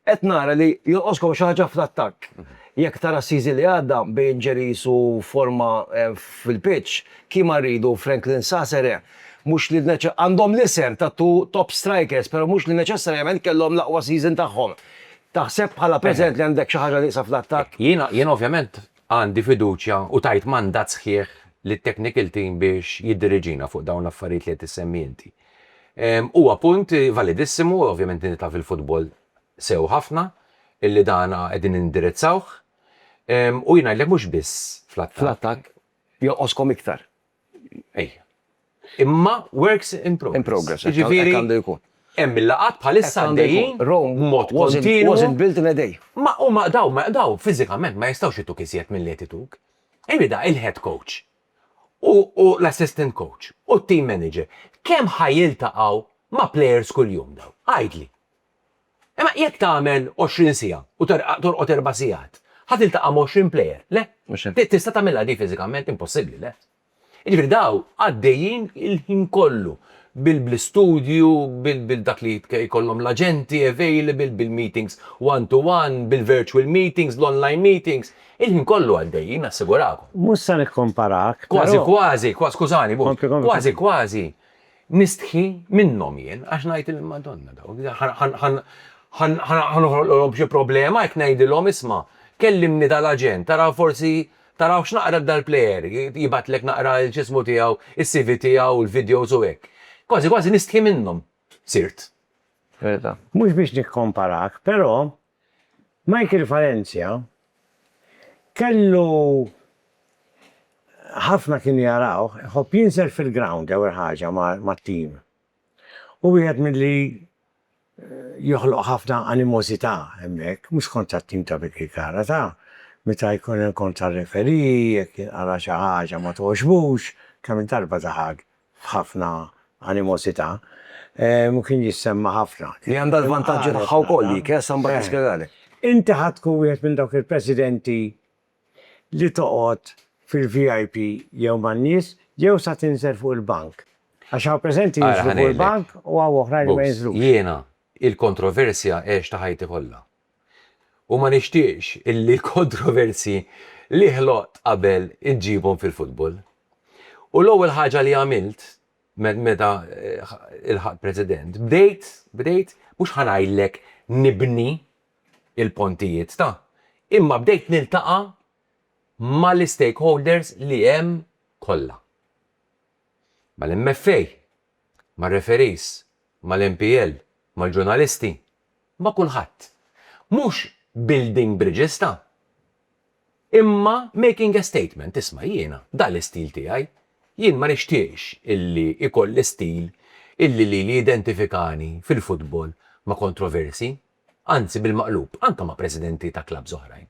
Qed nara li jonqoskom xi ħaġa fl-attakk. Jekk tara s-season li għadda bejn injuries u forma fil-pitch, kemm ma rridu Franklin Sasere, mhux li għandhom l-isem ta' two top strikers, però mhux li neċessarjament kellhom l-aqwa season tagħhom. Taħseb bħala preżent li għandek xi ħaġa nieqsa fl-attakk? Jiena ovvjament Għandi fiduċja u tajt mandat sħiħ lit-technical team biex jiddiriġina fuq dawn l-affarijiet li qed issemmi inti. Huwa punt validissimu, ovvjament inti taf il-futbol sew ħafna, illi dan qegħdin indirizzawh. U jien ngħidlek mhux biss fl-attakk. Fl-attakk joqgħoskom iktar. Imma works in progress. In progress, hekk għandu jkun. Hemm il-laqgħat bħalissa għaddejjin b'mod kontinwu. Rome wasn't built in a day. Ma huma daw, daw fiżikament ma jistgħux ituk iżjed milli qed ituk. Imma il-head coach u l-assistant coach u t-team manager kemm ħa jiltaqgħu ma' players kuljum daw? Għidli. Imma jekk tagħmel 20 siegħa u torqod erba' sigħat, ħa tiltaqa' ma' 20 plejer, le? Tista' tagħmilha di fiżikament? Impossibbli, le? Jiġifieri dawn għaddejjin il-ħin kollu bil-istudju, bil-dak li jkollhom l-aġenti available, bil-meetings one to one, bil-virtual meetings, l-online meetings, il-ħin kollu għaddejjin, nassigurakom. Mhux se nikkomparak, però. Kważi kważi, skużani, kważi kważi, Nistħi minnhom jien għax ngħid il-Madonna dawn ħa noħloqlhom xi problema jekk ngħidilhom isma' kellimni tal-aġent tara forsi tara x'naqra dal-plejer jibgħatlek naqra l-x'ismu tiegħu s-CV tiegħu l-videos u hekk. Kważi kważi nistħi minnhom sirt. Verità. Mhux biex nikkomparak, però Michael Falenzia kellu ħafna kienu jarawh iħobb jinżel fil-ground l-ewwel ħaġa mat-tim. Hu wieħed milli joħloq ħafna animożità hemmhekk, mhux kontra t-tim ta' Vicky Cara, ta' meta jkun hemm kontra r-referee, jekk jinqala' xi ħaġa ma togħġbux, kemm-il darba daħaq f'ħafna animosità, u kien jissemma ħafna. Li għandha l-vantaġġi tagħha wkoll dik, eh, sa mbagħad nispjegalek. Inti ħa tkun wieħed minn dawk il-presidenti li toqgħod fil-VIP jew man-nies jew sa tinżel fuq il-bank. Għax hawn preżenti jinżlu fuq il-bank u hawn oħrajn li ma jinżlux. Jiena, il-kontroversja għextha ħajti kollha. u ma nixtieqx illi l-kontroversji li ħloqt qabel inġibhom fil-futbol. U l-ewwel ħaġa li għamilt meta lħaqt President, bdejt, bdejt, mhux ħa ngħidlek nibni l-pontijiet ta', imma bdejt niltaqa' mal-istakeholders li hemm kollha. Mal-MFA, mar-referees, mal-NPL, mal-ġurnalisti, ma' kulħadd. Mhux building bridges ta'. Imma making a statement, isma' jiena dan l-istil tiegħi, jien ma nixtieqx illi ikolli stil illi lili jidentifikani fil-futbol ma' kontroversi, anzi bil-maqlub, anke ma' presidenti ta' klabbs oħrajn.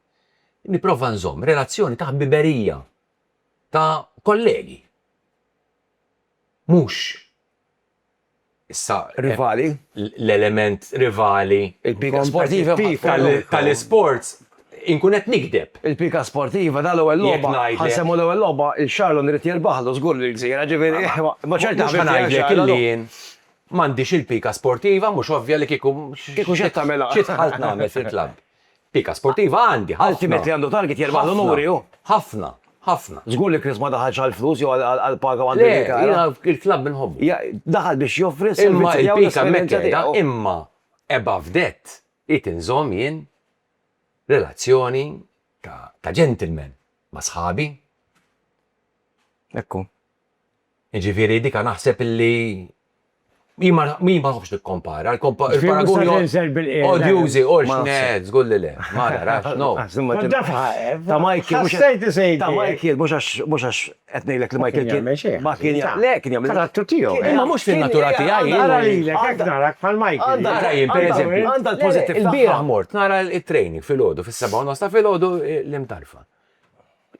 Nipprova nżomm relazzjoni ta' ħbiberija, ta' kollegi. Mhux Issa, rivali, l-element rivali, il-pika sportiva tal-isports, inkun qed nigdeb. Il-pika sportiva tal-ewwel logħba, ħa nsemmu l-ewwel logħba, il-Charlon irid jirbaħlu żgur lill-gżira, ġifieri, ma ċerti ħa nibqa' ngħidlek illi jien m'għandix il-pika sportiva, mhux ovvja li kieku xi tagħmel fil-klabb. Pika sportiva għandi ħafna. Ultimately għandu target jerbaħ l-unuri hu. Ħafna, ħafna. Żgur li Chris ma daħalx għall-flus jew għall-paga u għandu jgħid hekk. Le, jiena il-klabb inħobbu. Daħal biex joffri s-servizzi tiegħu. Imma il-pika hemmhekk qiegħda, imma above that irid inżomm jien relazzjoni ta' gentleman ma' sħabi. Hekk hu. Jiġifieri dika naħseb li hi ma nħobbx nikkompara. Il-paraguni odjużi u x'net, żgur li le. Ma narax, no. Ta' Michael, ta' Michael, mhux għax qed ngħidlek li Michael kien. Ma kien jagħmel. Le, kien jagħmel. Karattu tiegħu. Imma mhux fin-natura tiegħi. Ara lilek, hekk narak bħal Michael. Ara jien, pereżempju. Għandha l-pożittività. Il-bieraħ mort nara t-training filgħodu, fis-sebgħa u nofs ta' filgħodu l-imtarfa.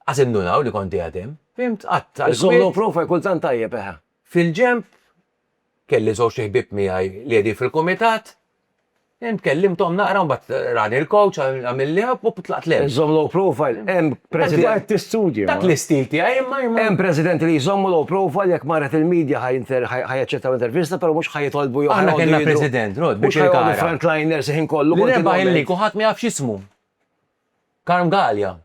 Qas indunaw li kont qiegħed hemm. Fhimt, għadt għal. Is-somno profaj kultant tajjeb, eħe. Fil-ġenb, kelli żewġt iħbieb miegħi li qegħdin fil-kumitat, fhimt, kellimthom naqra u mbagħad rani l-kowċ, għamilli hug u tlaqt l-hemm. Iżżomm low profile, hemm presidenti. Tant qed tistudja, ma. Dak l-istil tiegħi, imma imma. Hemm presidenti li jżommu low profile jekk marret il-media ħa jaċċettaw intervista però mhux ħa jitolbu jew ħa jgħidu. Aħna kellna president, Rod, biex il-kara. Mhux ħa jgħidu frontliners il-ħin kollu. Li rebaħ il-lig u ħadd ma jaf x'ismu. Carm Galea.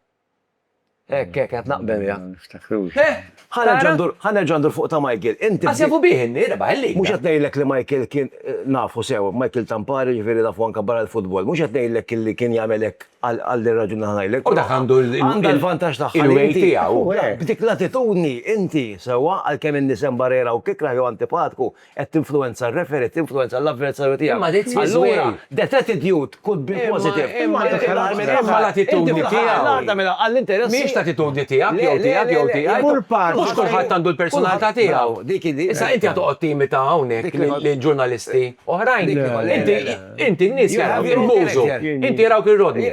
Hekk, hekk, qed naqbel miegħek. Ma niftakrux. Eh! Ħa nerġa' ndur, ħa nerġa' ndur fuq ta' Michael. Inti. Qas jafu bih in-nies, rebaħ il-liga. Mhux qed ngħidlek li Michael kien, nafu sew, Michael Tampari jiġifieri nafu anke barra l-futbol. Mhux qed ngħidlek illi kien jagħmel hekk għal għal din ir-raġuni li ħa ngħidlek. U dak għandu l-, Għandha l-vantaġġ tagħha li inti. il-way tiegħu. B'dik l-attitudni inti, sewwa, għalkemm in-nies hemm barra jrawk ikrah jew antipatku, Qed tinfluwenza r-referee, tinfluwenza l-avversarju tiegħek. Imma dik tmiss way. Allura, the attitude could be positive. Imma l-attitudni tiegħu. L-għaqda mela għall-interessi. Mhijiex l-attitudni tiegħek jew tiegħek jew tiegħi. Kull parti. Mhux kulħadd għandu l-personalità tiegħu. Dik hi. Issa inti qed toqgħod timita hawnhekk lil ġurnalisti oħrajn. Inti n-nies jarawk il-mużu. Inti jarawk ir-rodni.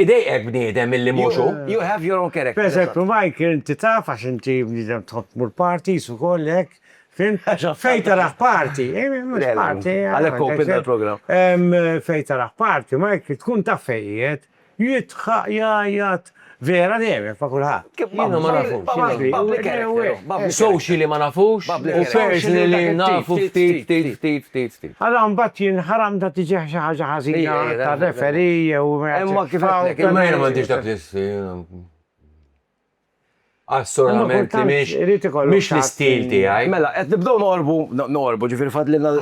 Idejqek bniedem milli mhux hu. You have your own character. Pereżempju, Michael, inti taf għax inti bniedem tħobb tmur parties ukoll hekk. Fejn taraħ party. Għalhekk open tal-programm. Fejn taraħ party, Mike, tkun taf fejn qiegħed, jidħaq, jgħajjat, vera deheb ma' kulħadd. Jiena ma nafux. Socially ma nafux, u personally nafu ftit, ftit, ftit, ftit, ftit. Ara mbagħad jien ħaram ta' tiġi xi ħaġa ħażina ta' referee jew. Imma kif għedtlek. Imma jiena m'għandix dak l-isfel. Assolutament, mhix l-istil tiegħi. Mela, qed nibdew noqorbu, noqorbu, ġifieri fadlilna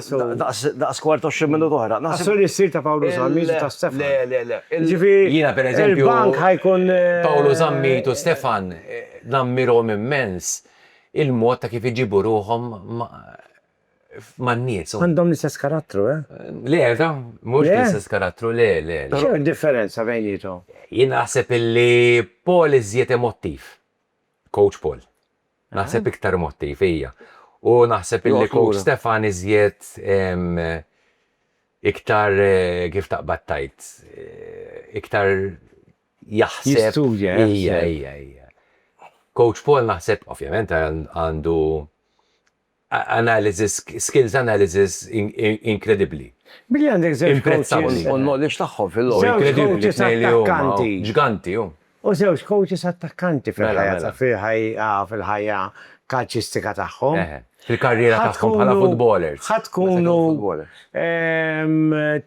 daqs kwart 20 minuta oħra. Naħseb li s-sir ta' Pawlu Zammit u ta' Stefan. Le, le, le. Ġifieri, jiena pereżempju, il-bank ħajkun. Pawlu Zammit u Stefan nammirhom immens il-mod ta' kif iġibu ruħhom man-nies. Għandhom l-istess karattru, eh? Le, ta, mhux l-istess karattru, le, le. X'inhi d-differenza bejniethom? Jien naħseb illi Paul iżjed emottiv. Coach Paul. Naħseb iktar emottiv, ija. U naħseb illi Coach Stefan iżjed iktar kif taqbad tgħid, iktar jaħseb. Jistudja, eh? Ija, ija, ija. Coach Paul naħseb, ovvjament, għandu analysis, skills analysis inkredibbli. Billi għandek żewġ coaches. U l-knowledge tagħhom fil-logħob. Żewġ coaches attakkanti. Ġganti hu. U żewġ coaches attakkanti fil-ħajja fil-ħajja kalċistika tagħhom. Fil-karriera tagħhom bħala futbolers. Ħa tkunu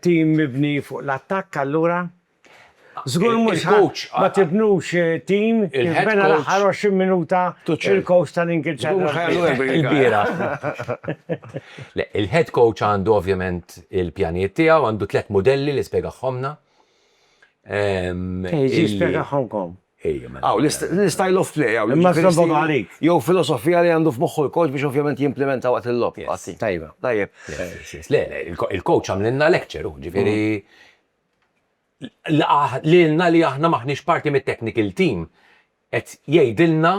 tim mibni fuq l-attakk allura? Żgur mhux coach ma tibnux tim jiżbena l-aħħar 20 minuta il-coach tal-Ingilterra. Il-head coach għandu ovvjament il-pjanijiet tiegħu, għandu tliet mudelli li spjegaħhomlna. Jiġi spjegaħhomkom. Aw, l-style of play, aw, imma żombhom għalik. Jew filosofija li għandu f'moħħu l-coach biex ovvjament jimplimenta waqt il-logħob. Tajjeb. Le, il-coach għamlilna lecture, ġifieri lilna li aħna m'aħniex parti mit-technical team qed jgħidilna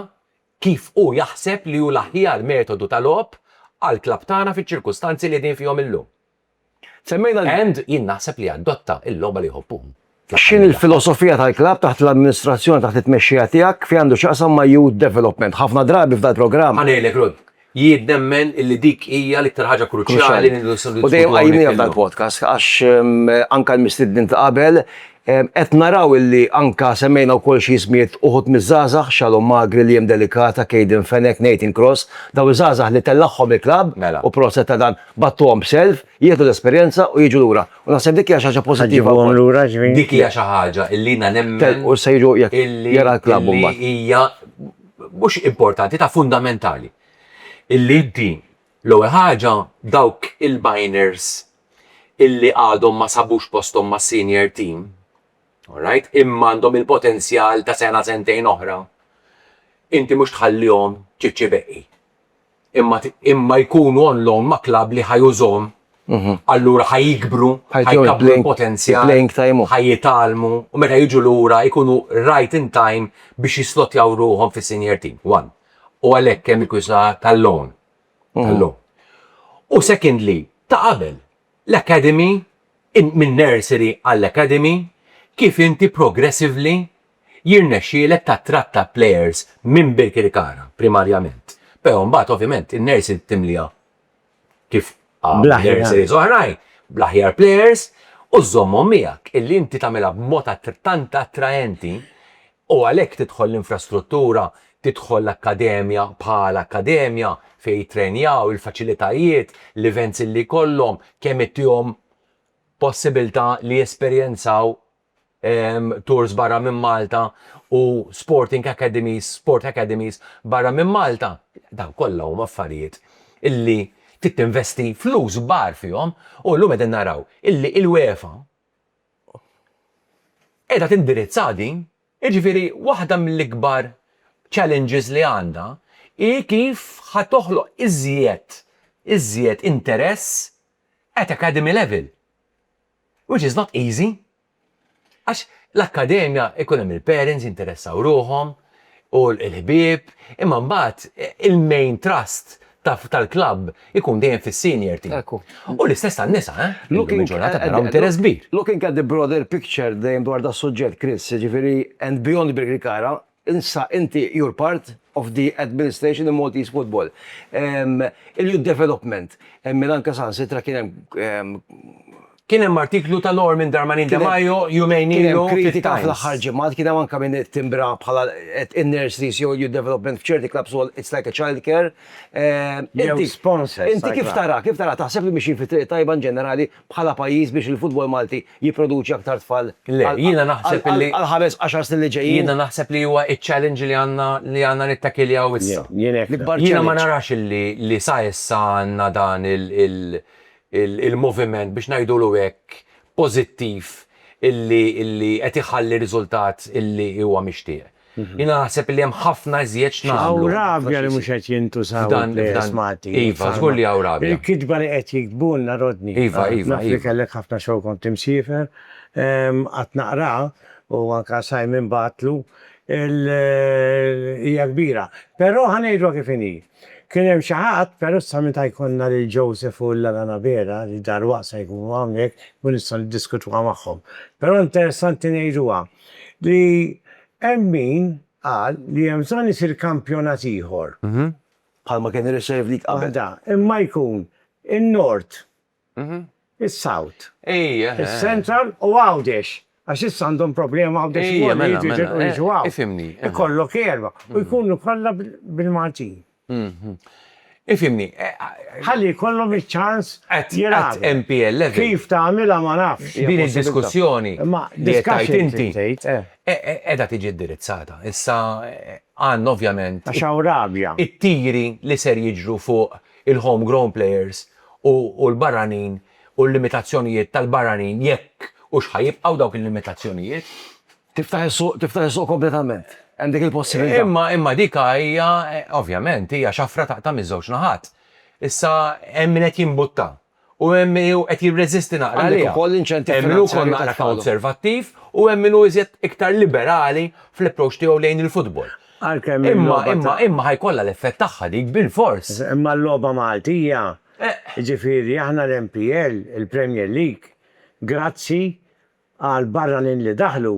kif hu jaħseb li hu l-aħjar metodu ta' logħob għall-klabb tagħna fiċ-ċirkustanzi li qegħdin fihom illum. Semmejna li. And jien naħseb li adotta l-logħba li jħobbuhom fl-aħħar X'inhi l-filosofija tal-klabb taħt l-amministrazzjoni taħt it-tmexxija tiegħek f'jgħandu x'jaqsam ma' youth development? Ħafna drabi f'dal-programm. Ħa ngħidlek Rudd, Jien nemmen illi dik hija l-iktar ħaġa kruċjali li nridu nitkellmu. U dejjem qajjimniha f'dan il-podcast għax anke l-mistednin ta' qabel qed naraw illi anke semmejna wkoll xi ismijiet uħud miż-żgħażagħ, Shalom Magri, Liam Delicata, Kayden Fenech, Nathan Cross, dawn iż-żgħażagħ li tellagħhom il-klabb u proset ta' dan, bagħtuhom b'self, jieħdu l-esperjenza u jiġu lura. U naħseb dik hija xi ħaġa pożittiva wkoll. Ħaġibhom lura ġifieri. Dik hija xi ħaġa illi jiena nemmen. Telqu se jiġu jekk jara l-klabb imbagħad. Illi hija mhux importanti, ta' fundamentali. Illi inti, l-ewwel ħaġa, dawk il-minors illi għadhom ma sabux posthom mas-senior team, alright, imma għandhom il-potenzjal ta' sena sentejn oħra, inti mhux tħallihom ċiċċibeqqi. imma imma jkunu on loan ma' klabb li ħa jużhom, allura ħa jikbru, ħa jkabbru l-potenzjal, ħa jitgħallmu u meta jiġu lura jkunu right in time biex jislotjaw ruħhom fis-senior team, one. U għalhekk hemm il-kwistjoni ta' tal-loan, tal-loan. U secondly, ta' qabel, l-academy, minn nursery għall-academy, kif inti progressively Jirnexxielek tattratta plejers minn Birkirkara primarjament, pero' mbagħad ovvjament in-Nersin timliha kif qalu nurseries oħrajn bl-aħjar plejers u żżommhom miegħek. Illi inti tagħmilha b'mod tant attraenti u għalhekk tidħol l-infrastruttura, tidħol l-akkademja bħala akkademja fejn jittrenjaw, il-faċilitajiet, l-events illi jkollhom, kemm ittihom possibilità li jesperjenzaw ehm, tours barra minn Malta u sporting academies, sport academies barra minn Malta, daw kollha huma affarijiet illi trid tinvesti flus bar fihom u llum qegħdin naraw illi il-UEFA qiegħda tindirizza din, jiġifieri waħda mill-ikbar challenges li għandha hi kif ħa toħloq iżjed iżjed interess at academy level. Which is not easy. Għax l-akkademja ikun hemm il-parents jinteressaw ruħhom u l-ħbieb, imma mbagħad il-main trust tal-klabb ikun dejjem fis-senior team. Hekk hu. U l-istess għan-nisa, eh? Illum il-ġurnata taraw interess kbir. Looking at the broader picture dejjem dwar das-suġġett, Chris, jiġifieri and beyond Birkirkara, Insa inti you're part of the administration in Maltese football. Il-youth development min anke saħansitra kien hemm. Kien hemm artiklu ta' Norman Darmanin De Majo jumejn ilu fit-Times. Kien hemm kritika fl-aħħar ġimgħat, kien hemm anke min ittimbra bħala in-nurseries jew il-youth development f'ċerti clubs ukoll it's like a child care. Jew sponsors. Inti kif tara, kif tara, taħseb li mixjin fit-triq it-tajba in ġenerali bħala pajjiż biex il-futbol Malti jipproduċi aktar tfal għall-ħames għaxar snin li ġejjin? Jiena naħseb li huwa ċ-challenge li għandna li għandna nittakiljaw issa. Jiena ma narax li sa issa għandna dan il-moviment biex ngħidulu hekk pożittiv li qed iħalli riżultat li huwa mixtieq. Jiena naħseb li hemm ħafna iżjed x'nagħmlu. Hawn rabja li mhux qed jintużaw il-plejers Maltin. Iva, żgur li hawn rabja. Il-kitba li qed jiktbulna, Rodney. Iva, iva. Naf li kellek ħafna xogħol kont imsiefer. Qatt naqra u anke Simon bagħatlu. Hija kbira. Però ħa ngħidluha kif inhi. Kien hemm xi ħadd, però issa meta jkollna lil Joseph u Llana Nabera li dalwaqt se jkunu hawnhekk nkun nistgħu niddiskutuha magħhom. Però interessanti ngħiduha li hemm min qal li hemm bżonn isir kampjonat ieħor. Bħalma kien ir-Reserve League qabel. Waħda, imma jkun in-Nord is-South, is-Central u Għawdex, għax issa għandhom problema Għawdex ukoll li jridu jitilqu jiġu hawn. Ikollok erba' u jkunu kollha bil-Maltin. Ifhimni. Ħalli jkollhom iċ-ċans jilagħbu. Qatt MPLF. Kif tagħmilha ma nafx. Din id-diskussjoni li qed tgħid inti qiegħda tiġi indirizzata. Issa għandna ovvjament. Għax hawn rabja. It-tiri li ser jiġru fuq il-homegrown players u l-barranin u l-limitazzjonijiet tal-barranin jekk hux ħa jibqgħu dawk il-limitazzjonijiet. Tiftaħ is-suq, tiftaħ is-suq kompletament. Hemm dik il-possibilità. Imma, imma dik hija, ovvjament, hija xafra taqta' miż-żewġ naħat. Issa hemm min qed jimbutta u hemm min hu qed jirreżisti naqra għaliha. Għandek ukoll l-inċentiv finanzjarju. Hemm min hu wkoll naqra konservattiv u hemm min hu iżjed iktar liberali fl-approach tiegħu lejn il-futbol. Għalkemm il-logħba ta'. Imma, imma, imma ħa jkollha l-effett tagħha dik bilfors. Imma l-logħba Maltija, jiġifieri aħna l-MPL, il-Premier League, grazzi għal barranin li daħlu,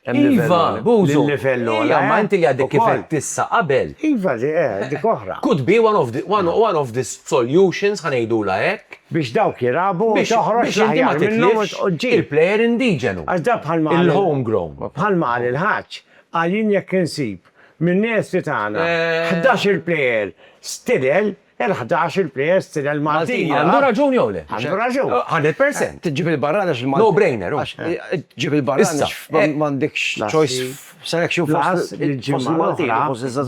hemm livell ogħla. Iva, Bużu. Hemm livell ogħla. Iva, imma inti li għadek kif għedt issa qabel. Iva, di, eh, dik oħra. Could be one of the, one, one of the solutions, ħa ngħidulha hekk. Biex dawk jilagħbu, biex toħroġ biex inti ma l-aħjar minnhom u titlifx tġib. il-plejer indiġenu. Għax da bħalma qal- Il-homegrown. Bħalma qal il-ħaġ, Għalin jekk insib min-nesti tagħna ħdax-il plejer stidel, il-ħdax-il plejer stidel Maltin jilgħab. Għandu raġun jew le? Għandu raġun. Hundred percent. Tġib il-barrani għax il-Maltin. No brainer hu. Għax tġib il-barrani għax m'għandekx choice f'selection fost il-Maltin.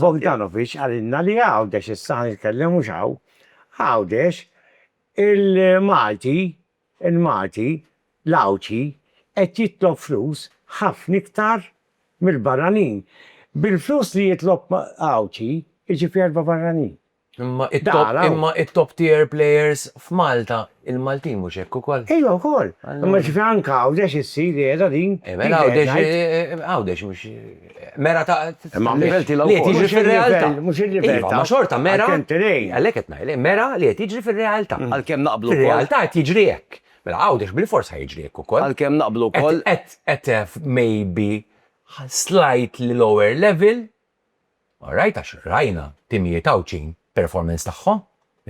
Bogdanovic qalilna li Għawdex, issa ħa nitkellem mhux hawn, Għawdex il-Malti Il-Malti, l-Għawdxi, qed jitlob flus ħafna iktar mill-barranin. Bil-flus li jitlob Għawdxi jġib erba' barranin. Imma it-top tier players f'Malta, il-Maltin mhux hekk ukoll? Ejwa wkoll. Imma jiġifieri anke Għawdex issir qiegħda din. Għawdex mhux. Mera ta' Imma li qed jiġri fir-realtà. Mhux il-livell. Iva, ma xorta mera. Għalhekk qed ngħid, mera li qed jiġri fir-realtà. Għalkemm naqblu. Fir-realtà qed jiġri hekk. Mela Għawdex bil-fors ħa jiġri hekk ukoll. Għalkemm naqblu wkoll. Qed maybe slightly lower level. All right, għax rajna timijiet Għawdxin performance tagħhom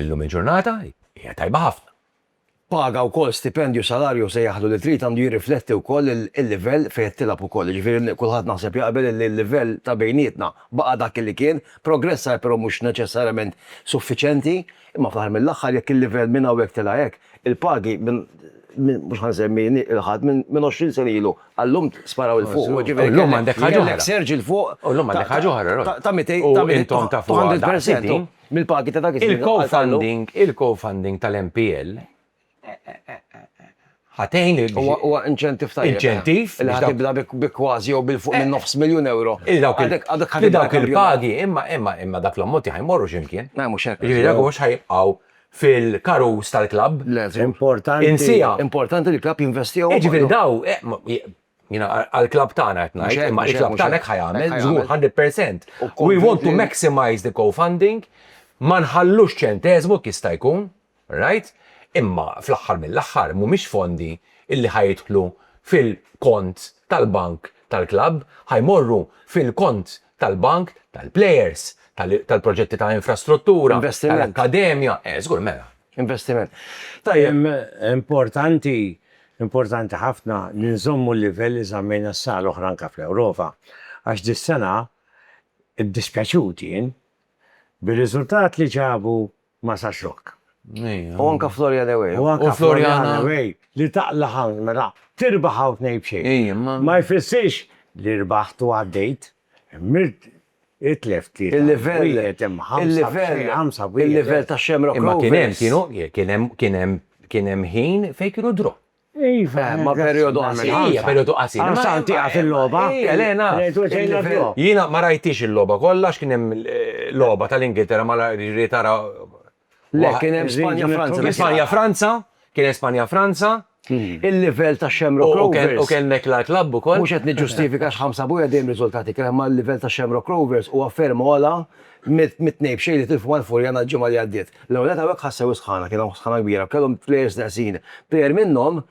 illum il-ġurnata hija tajba ħafna. Paga wkoll stipendju, salarju jew sejjaħlu li trid għandu jirrifletti wkoll il-livell fejn qed tilgħab ukoll. Jiġifieri kulħadd naħseb jaqbel li l-livell ta' bejnietna baqa' dak li kien, progress sar però mhux neċessarjament suffiċenti, imma fl-aħħar mill-aħħar jekk il-livell minn hawn hekk tela' hekk, il-pagi minn mhux ħa nsemmi lil ħadd minn għoxrin sena ilu għal lum sparaw 'il fuq. U llum għandek ħaġa oħra. Kellek surge 'il fuq ta' 200, ta' 200 percent. Mill-pagi ta' dak iż-żmien għal Carlo. Il-co-funding, il-co-funding tal-MPL ħa tgħin lil. Huwa, huwa inċentiv tajjeb. Inċentiv. Li ħa tibda bi kważi jew bil-fuq minn nofs miljun ewro. Li dawk il-, li dawk il-pagi, imma, imma, imma dak l-ammonti ħa jmorru xi mkien. Le mhux hekk. Jiġifieri dawk mhux ħa jibqgħu fil-karus tal-klabb. Le, żgur. Importanti. Insieha. Importanti li l-klabb jinvestihom. Jiġifieri daw, Jina għal-klab tagħna qed ngħid, imma l-klab tagħna hekk ħajamel, żgur 100%. We want to maximize the co-funding, ma nħallux ċenteżmu kista jkun, right? Imma fl-aħħar mill-aħħar mhumiex fondi illi ħajidħlu fil-kont tal-bank tal-klabb, ħajmorru fil-kont tal-bank, tal-plejers, tal-proġetti ta' infrastruttura, tal-akkademja. Eh, żgur, mela. Investiment. Tajjeb. Importanti, importanti ħafna li nżommu l-livell li żammejna s-sena l-oħra anke fl-Ewropa, għax dis-sena ddispjaċut jien bir-riżultat li ġabu ma' Sassuok. U anke Florian away. U anke Florian away li taqla' hawn, mela tirbaħ hawn tnejn b'xejn. Ma jfissirx li rbaħt u għaddejt. Mirt itlef tlieta wieħed imma ħamsa b'xejn, ħamsa b'wieħed. Il-livell tax-Shamrock Rovers. Imma kien hemm, kienu, kien hemm, kien hemm, kien hemm ħin fejn kienu draw. Iva, eh, ma periodu għal minn ħamsa. Ija, periodu qasir. Għal san tiqa fil-loba. Ija, lena. Jina ma rajtix il-loba kollha x'kien hemm eh, loba tal-Ingilterra ma rajt tara. Le, kien hemm Spanja Franza. Spanja Franza, kien hemm Spanja Franza. Hmm. Il-livell ta' Xemro Rovers. U kien nek la klabb ukoll. Mhux qed niġġustifika x'ħamsa buja dejjem riżultati kien ma l-livell ta' Xemro Rovers u afferma għala mit-tnejbxej li tilfu mal-Furjana l-ġimgħa li għaddiet. L-ewwel nett hawnhekk ħassew is-sħana, kien hawn sħana kbira, kellhom plejers neqsin. Plejer minnhom,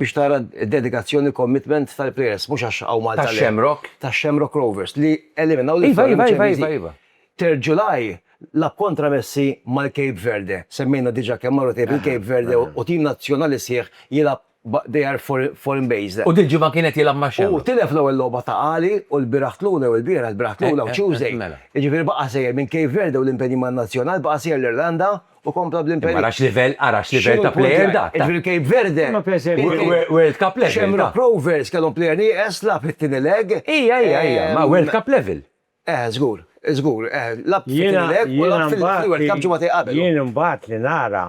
biex tara d-dedikazzjoni u commitment tal-plejers, mhux għax hawn Malta le. Tax-Shamrock? Tax-Shamrock Rovers, li eliminaw lil Floriana miċ-Champions League. Iva, iva, iva, iva. Third July, lagħab kontra Messi mal-Cape Verde. Semmejna diġà kemm marru tejb il-Cape Verde u tim nazzjonali sħiħ jilgħab but they are foreign based. U dil-ġimgħa kien qed jilgħab ma' Shamrock. U tilef l-ewwel logħba ta' Għali u l-bieraħ tluna jew ilbieraħ, l-bieraħ tluna u Tuesday. Jiġifieri baqa' sejjer minn Cape Verde u l-impenji man-Nazzjonal baqa' sejjer l-Irlanda u kompla bl-impenji. Ara x'livell, ara x'livell ta' plejer dak. Jiġifieri Cape Verde. Imma pereżempju. World Cup level. Shamrock Rovers kellhom plejer nieqes lagħab it-tieni leg. Ija, ija, ija, ma' World Cup level. Eh, żgur, żgur, eh, lagħab it-tieni leg u lagħab fil-World Cup ġimgħatej qabel. Jien imbagħad li nara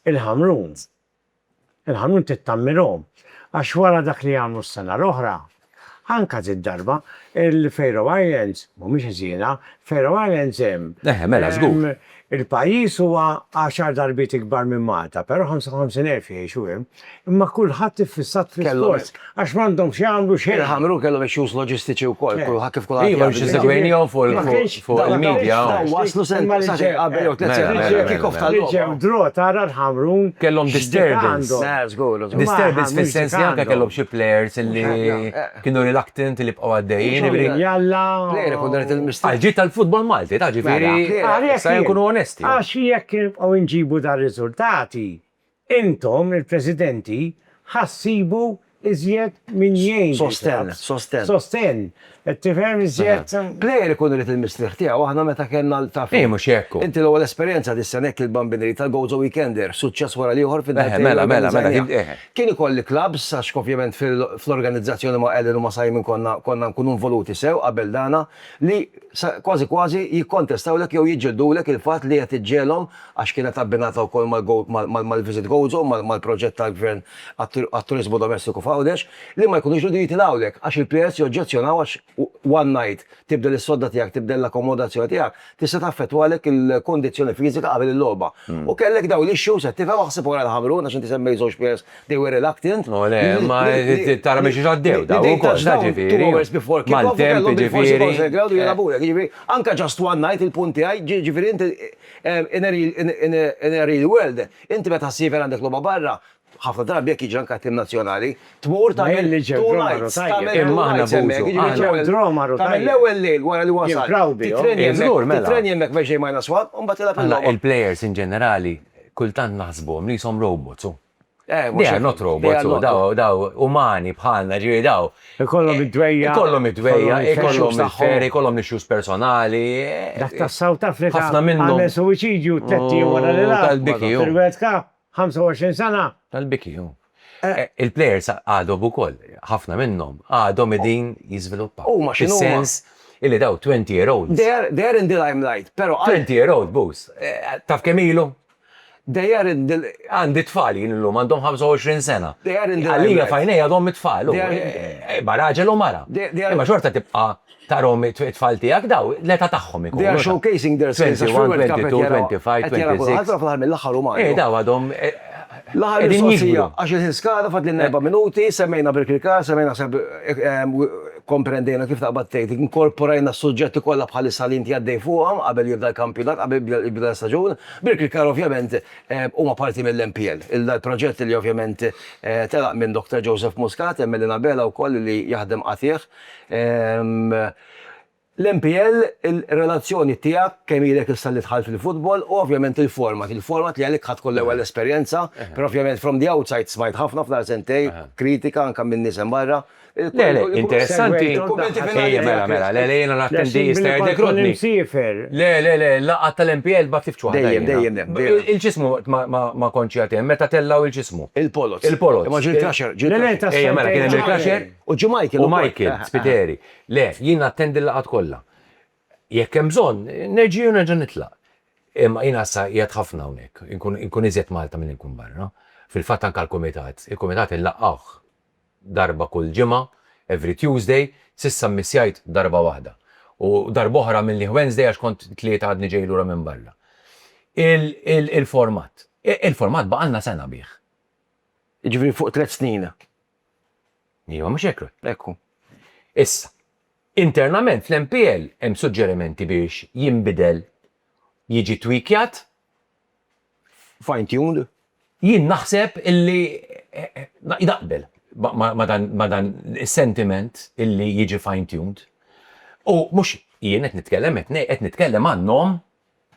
l-Ħamrun. Il-ħanun tittammirhom għax wara dak li għamlu s-sena l-oħra, anka did-darba, il-Faroe Islands mhumiex ħżiena, Faroe Islands hemm. Eħe, mela, żgur. Il-pajjiż huwa għaxar darbiet ikbar minn Malta, però 55,000 jgħixu hemm, imma kulħadd iffissat fl-isport. Għax m'għandhom x'jagħmlu xejn. Il-Ħamrun kellhom issues loġistiċi wkoll, kulħadd kif kulħadd. Iva, biex isegwejnihom fuq il-media. Dawn waslu sentejn sentejn qabel jew tliet sentejn qabel il-kick-off tal-logħba. Biex hemm draw tara l-Ħamrun. Kellhom disturbance. Żgur. Disturbance fis-sens li anke kellhom xi players li kienu reluctant li bqgħu għaddejjin. Jalla. Player ikun dan il-mistoqsija. Għal ġid tal-futbol Malti, ta' ġifieri. Sa jkunu onesti. Għax jekk nibqgħu nġibu dar-riżultati, Intom, il-Presidenti, ħa ssibu iżjed min jgħin lil Sostenn, sostenn. Sostenn, qed tifhem iżjed? Plejer ikun irid il-mistrieħ tiegħu, aħna meta kellna l, taf int. Hi mhux hekk u. Inti l-ewwel esperjenza dis-sena hekk il-Bambineri tal-Gozo Weekender, suċċess wara l-ieħor fid-dartejn li organizzajniha. Kien ikolli clubs għax ovvjament fl-organizzazzjoni ma' Ellen u ma' Simon konna konna nkunu involuti sew qabel dana li kważi kważi jikkontestawlek jew jiġġildulek il-fatt li qed iġġegħelhom għax kienet abbinata wkoll mal-Visit Gozo, mal-proġett tal-Gvern għat-turiżmu domestiku f'Għawdex, li ma jkunux riedu jitilgħulek għax il-PRS joġġezzjonaw għax one night, tibdel is-sodda tiegħek, tibdel l-akkomodazzjoni tiegħek, tista' taffettwalek il-kondizzjoni fiżika qabel il-logħba. U kellek dawn l-issues, qed tifhem, aħseb wara l-Ħamrun għax inti semmejt żewġ players, they were reluctant. U le, imma tara minn xiex għaddew dawn ukoll, jiġifieri. Maltemp, jiġifieri. Anke just one night, il-punt tiegħi, jiġifieri inti. In a real world, inti meta ssiefer għandek logħba barra, ħafna drabi hekk jiġri anke għat-tim nazzjonali, tmur tagħmel two nights, tagħmel two nights hemmhekk, jiġifieri tagħmel l-ewwel lejl wara li wasalt, tittrenja hemmhekk, tittrenja hemmhekk biex ġej minus one u mbagħad tilgħab il-logħba. Aħna il-players in ġenerali kultant naħsbuhom li qishom robots u Eh, mhux Dejja not robots, u daw, daw umani bħalna, ġiri daw. Ikollhom eh, id-dwejja. Ikollhom id-dwejja, ikollhom il-ferri, ikollhom l-issues personali. Eh. Dak ta' South Africa. Ħafna minnhom. Għamel suwiċidju t-tetti wara li la. Tal-biki. Fil-World Cup, 25 sena. Tal-biki, ju. Eh. Il-players għadhom ukoll, ħafna minnhom, għadhom edin jiżviluppaw. U ma xinu. sens illi daw 20 year old. They're in the limelight, pero. 20 year old, bus. Taf kemilu? They aren't the Għandi t-tfal jien illum, għandhom 25 sena. They aren't the Għalija f'għajnejja għadhom it-tfal. Imma raġel u mara. Imma xorta tibqa' tarahom it-tfal tiegħek, daw l-età tagħhom ikunu. They are showcasing their skills għax fil-World Cup qed jaraw, qed jaraw kulħadd, però fl-aħħar mill-aħħar huma għadhom. Eh, daw għadhom qegħdin jikbru. Għax il-ħin skada, fadlilna erba' minuti, semmejna Birkirkara, semmejna Kkomprendejna kif taqbad tgħid, inkorporajna s-suġġetti kollha bħalissa li inti għaddej fuqhom qabel jibda l-kampjonat, qabel jibda jibda l-istaġun. Birkirkar ovvjament huma parti mill-MPL. Il-proġett li ovvjament telaq minn Doctor Joseph Muscat, hemm Elena Abela wkoll li jaħdem qatigħ. L-MPL, ir-relazzjoni tiegħek, kemm ilek issa li dħalt fil-futbol, u ovvjament il-format. Il-format li għalik ħadt tkun l-ewwel esperjenza, però ovvjament from the outside smajt ħafna fl-aħħar sentejn kritika anke minn nies hemm barra. Le, le, interessanti. Il-kummenti finali. Mela, mela, le, le, jena nattendi jistajer dekrotni. Le, le, le, laqqa tal-MPL bat tifċu għadda. Dejjem, dejjem, dejjem. Il-ġismu ma konċi għatem, meta tellaw il-ġismu. Il-polot. Il-polot. Ma ġil klaxer, ġil klaxer. Ejja, mela, kien ġil klaxer. U ġu Michael. U Michael, spiteri. Le, jien nattendi l-laqat kolla. Jekk hemm bżonn, nerġi' u nerġa' nitlaq. Imma jien għassa jgħat ħafna unek, inkun iżjed Malta minn inkun barra. Fil-fat anka l-komitat, il-komitat il-laqqaħ darba kull ġimgħa, every Tuesday, s'issa mmissjajt darba waħda. U darb'oħra minlieh Wednesday għax kont it-Tlieta għadni ġej lura minn barra. Il-format. Il-format baqgħalna sena bih. Jiġifieri fuq tliet snin. Iva, mhux hekk? Hekk hu. Issa, internament fl-MPL hemm suġġerimenti biex jinbidel, jiġi twikjat, fine tuned. Jien naħseb illi naqbel ma' dan is-sentiment illi jiġi fine tuned. U mhux jien qed nitkellem, qed nitkellem għan-nom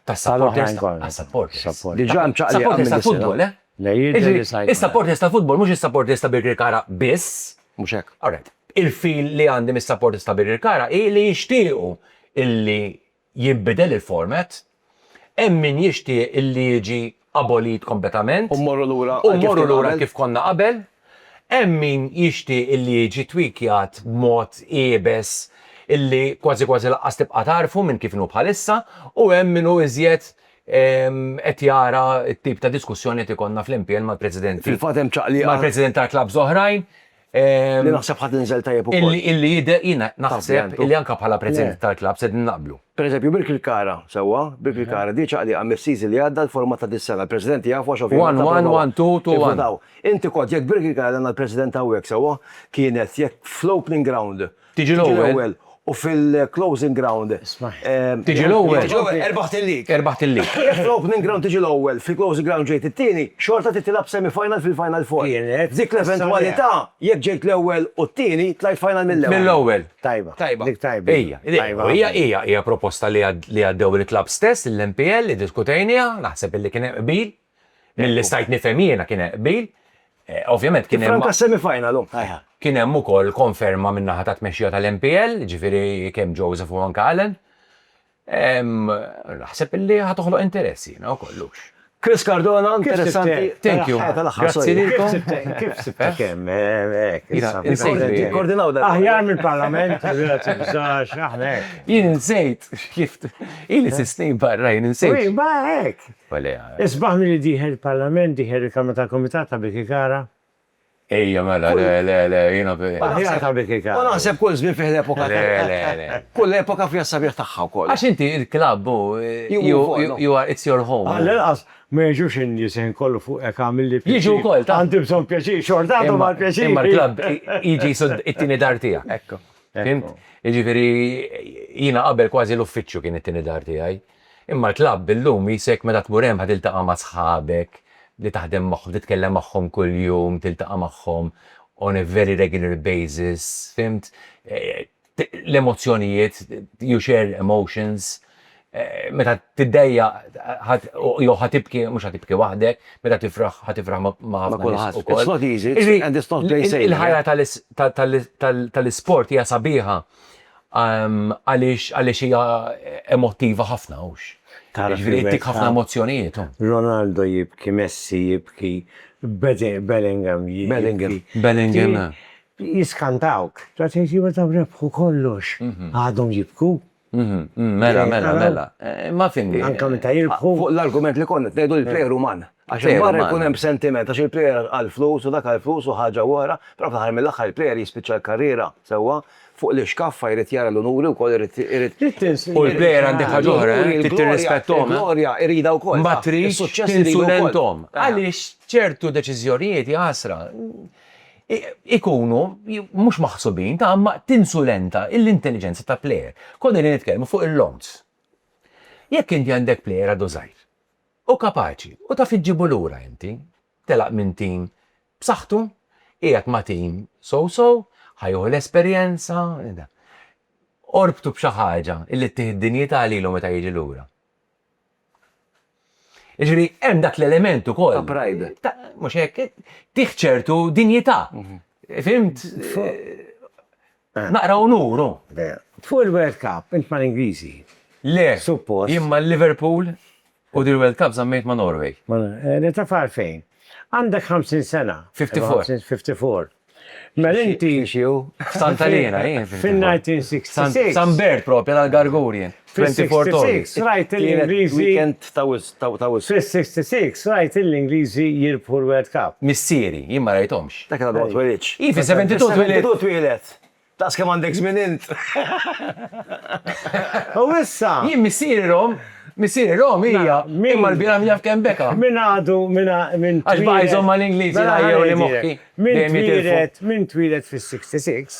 tas-supporters tas-supporters. Diġà hemm ċaqliqa minn is-futbol, eh? Is-supporters tal-futbol mhux is-supporters ta' Birkirkara biss. Mhux hekk. Alright. Il-feel li għandi mis-supporters ta' Birkirkara hi li jixtiequ illi jinbidel il-format, hemm min jixtieq illi jiġi abolit kompletament u mmorru lura għal kif konna qabel, hemm min jixtieq illi jiġi tweakjat b'mod iebes illi kważi kważi lanqas tibqa' tagħrfu minn kif inhu bħalissa u hemm min hu iżjed qed jara t-tip ta' diskussjoni li qed ikollna fl-MPL mal-presidenti, mal-presidenti tal-klabbs oħrajn. Li naħseb ħadd inżel tajjeb ukoll. Illi jidher jiena naħseb illi anke bħala president tal-klabb se naqblu. Pereżempju, Birkirkara, sewwa, Birkirkara diet ċaqliqa mis-season li għadda l-format ta' dis-sena. Il-presidenti jafu għax ovvjament. One, one, one, two, two, one. Inti kont jekk Birkirkara li għandna l-president hawnhekk sewwa, kienet jekk fl-opening ground, Tiġi l-ewwel. U fil-closing ground. Tiġi l-ewwel. Tiġi l-ewwel, erbaħt il-lig. Erbaħt il-lig. Jekk fl-opening ground tiġi l-ewwel, fil-closing ground ġejt it-tieni, xorta trid tilgħab semi-final fil-final four. F'dik l-eventwalità, jekk ġejt l-ewwel u t-tieni, tlajt final mill-ewwel. Mill-ewwel. Tajba. Tajba. Dik tajba. Hija. Tajba. Hija, hija, hija proposta li għaddew il-klabbs stess, il-MPL, iddiskutejnieha, naħseb li kien hemm qbil. Milli stajt nifhem jiena kien hemm qbil, ovvjament kien hemm. Tifranka s-semifinal hu. Kien hemm ukoll konferma min-naħa tat-tmexxija tal-MPL, jiġifieri kemm Joseph u anke Alan. Naħseb illi ħa toħloq interess jiena wkoll hux. Chris Cardona, interessanti. Thank you. Grazzi lilkom. Kif sibtha kemm? Koordinaw dan. Aħjar mill-Parlament, grazzi bżax, aħna hekk. Jien insejt kif ili sisni barra jien insejt. Wi, ma hekk. Isbaħ milli dieħel il-Parlament, dieħel il-Kamra tal-Kumitat ta' Birkirkara. Ejja mela, le, le, le, jiena. Aħjar ta' Birkirkara. U naħseb kull żmien fih l-epoka ta'. Le, le, le. Kull epoka fiha s-sabiħ tagħha wkoll. Għax inti il-klabb hu, you are, it's your home. Għall-inqas ma jiġux in-nies il-ħin kollu fuq hekk għamilli pjaċir. Jiġu wkoll, taf. Għandi bżonn pjaċir, xorta għadhom għall-pjaċir. Imma l-klabb jiġi jsud it-tieni dar tiegħek. Hekk. Fihimt? Jiġifieri jiena qabel kważi l-uffiċċju kien it-tieni dar tiegħi. Imma l-klabb illum qisek meta tmur hemm ħa tiltaqa' ma' sħabek li taħdem magħhom, titkellem magħhom kuljum, tiltaqa' magħhom on a very regular basis, fhimt? L-emozzjonijiet, you share emotions. Meta tiddejjaq ħa jew ħa tibki, mhux ħa tibki waħdek, meta tifraħ ħa tifraħ ma' ħafna nies ukoll. Il-ħajja tal-isport hija sabiħa Għaliex għaliex hija emottiva ħafna, hux? Tara kif. Jiġifieri ttik ħafna emozzjonijiet, hu. Ronaldo jibki, Messi jibki, Bellingham jibki. Bellingham, Bellingham, eh. Jiskantawk. Tara tgħid iva dawn rebħu kollox. Għadhom jibku. Mela, mela, mela. Imma fimni. Anke meta jirbħu. Fuq l-argument li konna qed ngħidu l-plejer uman. Għax hemm barra jkun hemm sentiment għax il-player għal flus u dak għal flus u ħaġa u oħra, però fl-aħħar mill-aħħar il-player jispiċċa l-karriera sewwa fuq l-ixkaffa jrid jara l-unuri wkoll irid irid U l-player għandek ħaġa oħra, eh, trid tirrispetthom. eh. Il-glorja iridha wkoll. Ma tridx Is-suċċess iridu wkoll. tinsulenthom. Għaliex ċertu deċiżjonijiet, ja ħasra, i- ikunu i- mhux maħsubin ta' imma tinsulenta l-intelliġenza ta' player. Konna qegħdin nitkellmu fuq il-loans. Jekk inti għandek player għadu żgħir, Hu kapaċi u taf iġġibu lura inti. Telaq minn tim b'saħħtu, qiegħed ma' tim so-so, ħa jieħu l-esperjenza. Orbtu b'xi ħaġa li ttih id-dinjità lilu meta jiġi lura. Jiġifieri hemm dak l-element ukoll. Ta' pride. Mhux hekk? Ttih ċertu dinjità. Fhimt? Eh. Naqra unur hu. Vera. Fuq il-World Cup int mal-Ingliżi. Le. Suppost. Jien mal-Liverpool u dil-World Cup żammejt ma' Norway. Ma eh, taf għalfejn? Għandek 50 sena. 54. 54. Mela inti. Xi hu? F'Santa Lina jien. Fin-1966. San Bert propja tal-Gargur jien. Fis-66 rajt il-Ingliżi. Fis-66 rajt il-Ingliżi jirbħu l-World Cup. Missieri, jien ma rajthomx. Dak għadu ma twelidtx. Hi, fis-72 twelidt. Fis-72 twieled. Daqs kemm għandek żmien int. U issa. Jien missieri rom, missieri rom hija, imma l-bira min jaf kemm beka. Min għadu, min tweled. Għax baqa' jżomm mal-Ingliżi l-għajja u li moħħi. Min tweled, min tweled fis-66.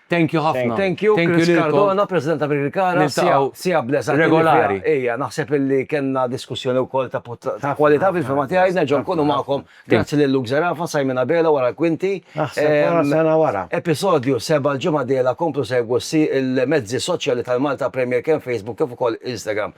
Thank you ħafna. Thank you Chris Cardona, President ta' Birkirkara. Siegħa bl-eżatt. Regolari. Ejja, naħseb illi kellna diskussjoni wkoll ta' kwalità fil-fehma tiegħi. Nerġgħu nkunu magħkom. Grazzi lil Luke Zerafa, Simon Abela wara l-kwinti. Naħseb sena wara. Episodju seba' l-ġimgħa d-dieħla komplu segwu il-mezzi soċjali tal-Malta Premier kemm Facebook kif ukoll Instagram.